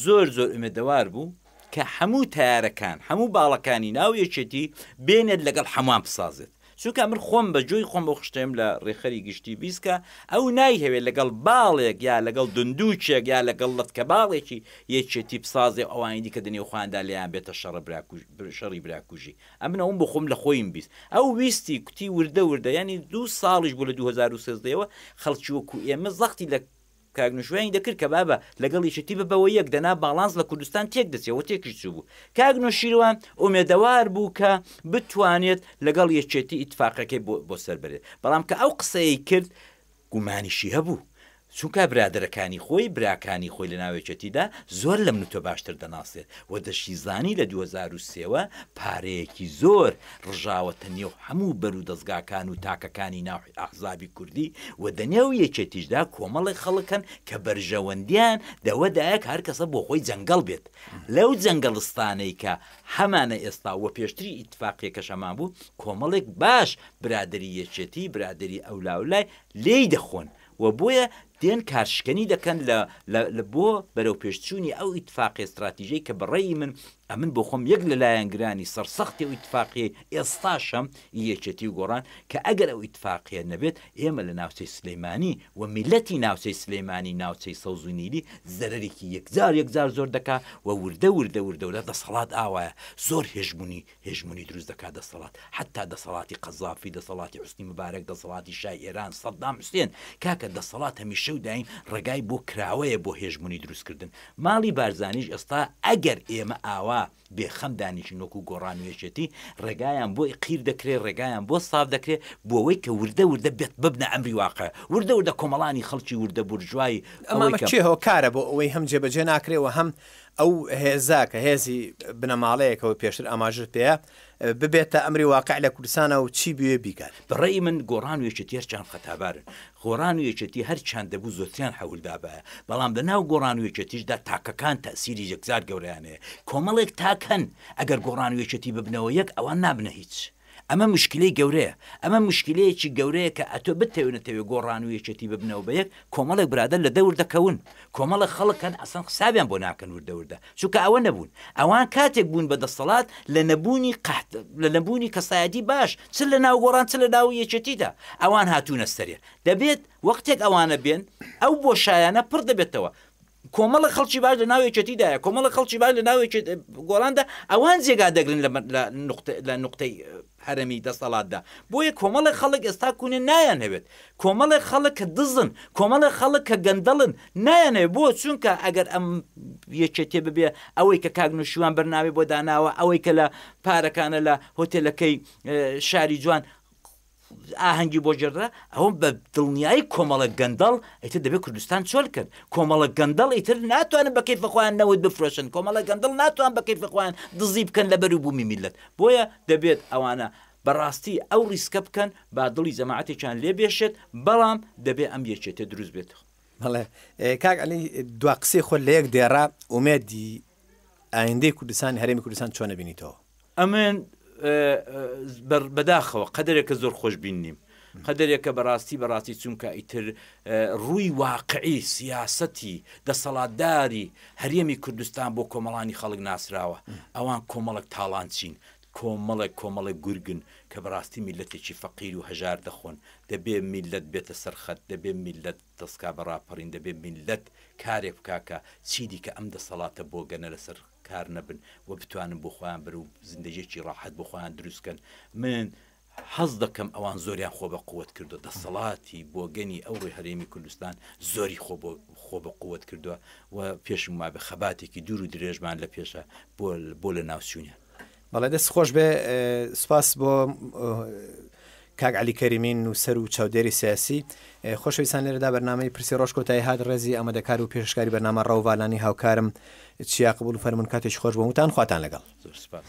زۆر زۆر ئومێدەوار بوو کە هەموو تەیارەکان هەموو باڵەکانی ناو یەکێتی بێنێت لەگەڵ هەمووان بسازێت چونکە من خۆم بە جۆی خۆم بۆ خشتێم لە ڕێخەری گشتی بیسکە ئەو نایهەوێت لەگەڵ باڵێک یا لەگەڵ دندووچێک یا لەگەڵ لەتکە باڵێکی یەکێتی بسازێ ئەوانی دیکە دنێو خۆیاندا لێیان بێتە شەڕە براکوژ شەڕی براکوژی ئەمن ئەوم بۆ خۆم لە خۆیم بیست ئەو ویستی کوتی وردە وردە ینی دوو ساڵیش بوو لە 2013ەوە خەڵکی وەکو ئێمە زەختی لە کاک نوشوێنی دەکرد کە بابە لەگەڵ یەکێتی ببەوە یەک دەنا باڵانس لە کوردستان تێک دەچێ و تێکیش چوو بوو کاک نوشیروان ئومێدەوار بوو کە بتوانێت لەگەڵ یەکێتی ئیتفاقەکەی بۆ بۆ سەر بەرێت بەڵام کە ئەو قسەیەی کرد گومانیشی هەبوو چونکە برادەرەکانی خۆی براکانی خۆی لە ناو یەکێتیدا زۆر لە من و تۆ باشتر دەناسێت و دەشیزانی لە دوو هەزار و سێ وە پارەیەکی زۆر ڕژاوەتە نێو هەموو بەرو دەزگاکان و تاکەکانی ناو ئەحزابی کوردی و دە نێو یەکێتیشدا کۆمەڵێک خەڵک هەن کە بەرژەوەندیان دە وە دایە کە هەر کەسە بۆ خۆی جەنگەڵ بێت لە و جەنگەڵستانەی کە هەمانە ئێستا وە پێشتریش ئیتفاقیەکەش هەمان بوو کۆمەڵێک باش برادەری یەکێتی برادەری ئەولاولای لێی دەخۆن و بۆیە دێن کارشکەنی دەکەن لە لە لە بۆ بەرەوپێشچوونی ئەو ئیتفاقیە ستراتیژەی کە بە ڕەئی من ئەمن بۆ خۆم یەک لە لایەنگرانی سەرسەختی ئەو ئیتفاقیەی ئێستاشم ئی یەکێتی و گۆڕان کە ئەگەر ئەو ئیتفاقیە نەبێت ئێمە لە ناوچەی سلیمانی و میللەتی ناوچەی سلیمانی ناوچەی سەوز و نیلی زەرەرێکی یەکجار یەکجار زۆر دەکا و وردە وردە وردە وردە دەسەڵات ئاوایە زۆر هێژمونی هێژمونی دروست دەکات دەسەڵات حەتا دەسەڵاتی قەزافی دەسەڵاتی حوسنی مبارەک دەسەڵاتی شای ئێران سەدام حوسێن کاکە دەسەڵات هەمیشە و دایم ڕێگای بۆ کراوەیە بۆ هێژمونی دروست کردن ماڵی بارزانیش ئێستا ئەگەر ئێمە ئاوا بێ خەم دانیشین وەکو گۆڕان و یەکێتی ڕێگایان بۆ قیر دەکرێ ڕێگایان بۆ ساف دەکرێ بۆوەی کە وردە وردە بێت ببنە ئەمری واقع وردە وردە کۆمەڵانی خەڵکی وردە بورژوای ئەوەی کە. ئەمە کێ هۆکارە بۆ ئەوەی هەم جێبەجێ ناکرێ و هەم ئەو هێزە کە هێزی بنەماڵەیەکە و پێشتر ئاماژەت پێیە، ببێتە ئەمری واقع لە کوردستانا و چی بوێ بیکات؟ بە ڕەئی من گۆڕان و یەکێتی هەرچەند خەتابارن، گۆڕان و یەکێتی هەرچەند دەبوو زۆرتریان حەولدابایە، بەڵام لە ناو گۆڕان و یەکێتیشدا تاکەکان تەئسیری یەکجار گەورەیان هەیە. کۆمەڵێک تاک هەن ئەگەر گۆڕان و یەکێتی ببنەوە یەک ئەوان نابنە هیچ. ئەمە موشکیلەی گەورەیە، ئەمە موشکیلەیەکی گەورەیە کە ئەتۆ بتەوێ نەتەوێ گۆڕان و یەکێتی ببنەوە بە یەک، کۆمەڵێک برادەر لە دەور دەکەون، کۆمەڵێک خەڵک هەن ئەسڵەن حسابیان بۆ ناکەن وردە وردە، چونکە ئەوە نەبوون، ئەوان کاتێک بوون بە دەستەڵات لە نەبوونی قەحت، لە نەبوونی کەسایەتی باش، چ لە ناو گۆڕان چ لە ناو یەکێتیدا، ئەوان هاتوونە سەرێ، دەبێت وەختێک ئەوانە بێن ئەو بۆشایانە پڕ دەبێتەوە، کۆمەڵە خەڵکی باش لە ناو یەکێتیدایە کۆمەڵە خەڵکی باش لە ناو گۆڵاندا ئەوان جێگا دەگرن لە نقطەی هەرمی دەستەڵاتدا بۆیە کۆمەڵە خەڵک ئێستا کوونێ نایان هەوێت کۆمەڵێ خەڵک کە دزن کۆمەڵێ خەڵک کە گەندەڵن نایانێ بۆ چونکە ئەگەر ئەم یەکێتێ ببێ ئەوەی کە کاگنوشیوان بەرناوی بۆ داناوە ئەوەی کە لە پارەکانە لە هۆتێلەکەی شاری جوان ئاهەنگی بۆ گێڕدرا، ئەوە بە دڵنیایی کۆمەڵە گەندەڵ ئیتر دەبێت کوردستان چۆل کرد، کۆمەڵە گەندەڵ ئیتر ناتوانن بە کەیفە خۆیان نەوت بفرۆشن، کۆمەڵە گەندەڵ ناتوان بە کەیفە خۆیان دزی بکەن لە بەرو بوومی میللەت، بۆیە دەبێت ئەوانە بە ڕاستی ئەو ڕیسکە بکەن با دڵی جەماعەتێکیان لێ بێشێت، بەڵام دەبێت ئەم یەکێتیە دروست بێت. بەڵێ کاک علی دوا قسەی خۆت لە یەک دێڕە ئومێدی ئایندەی کوردستان هەرێمی کوردستان چۆن ئەبینیتەوە؟ ئەمن بەداخەوە قەدرێکە زۆر خۆش بین نیم قەدرێکە بەڕاستی بەڕاستی چونکە ئیتر ڕووی واقعی سیاسەتی دەسەڵاتداری هەرێمی کوردستان بۆ کۆمەڵانی خەڵک ناسراوە ئەوان کۆمەڵک تاڵان چین کۆمەڵێک کۆمەڵێک گورگن کە بەڕاستی میلەتێکی فەقیر و هەژار دەخۆن دەبێ میلەت بێتە سەرخەت دەبێ میلەت دەسکا بە ڕاپەڕین دەبێ میللەت کارێک بکا کە چیدیکە ئەم دەسەڵاتە بۆگەنە لەسەر کار نەبن و بتوانن بۆ خۆیان بن و زیندەییەکی ڕاحەت بۆ خۆیان دروست کەن من حەز دەکەم ئەوان زۆریان خۆ بە قوت کردوە دەسەڵاتی بۆگەنی ئەو ڕوی هەرێمی کوردستان زۆری خۆ بۆ خۆ بە قوت کردوە و پێشم وابێ خەباتێکی دوور و درێژمان لە پێشە بۆ بۆ لە ناوچوونیان بەڵێ دەست خۆش بێ سپاس بۆ کاک علی کەریمین نووسەر و چاودێری سیاسی خۆشەویستان لێرەدا بەرنامەی پرسی ڕۆژ کۆتایی هاات ڕێزی ئەمەدەکار و پێشکاری بەنامە ڕەوڤالانی هاوکارم چیا قبول فەرمونون کاتێک خۆش بۆ وتان خواتان لەگەڵ زۆر سپاس.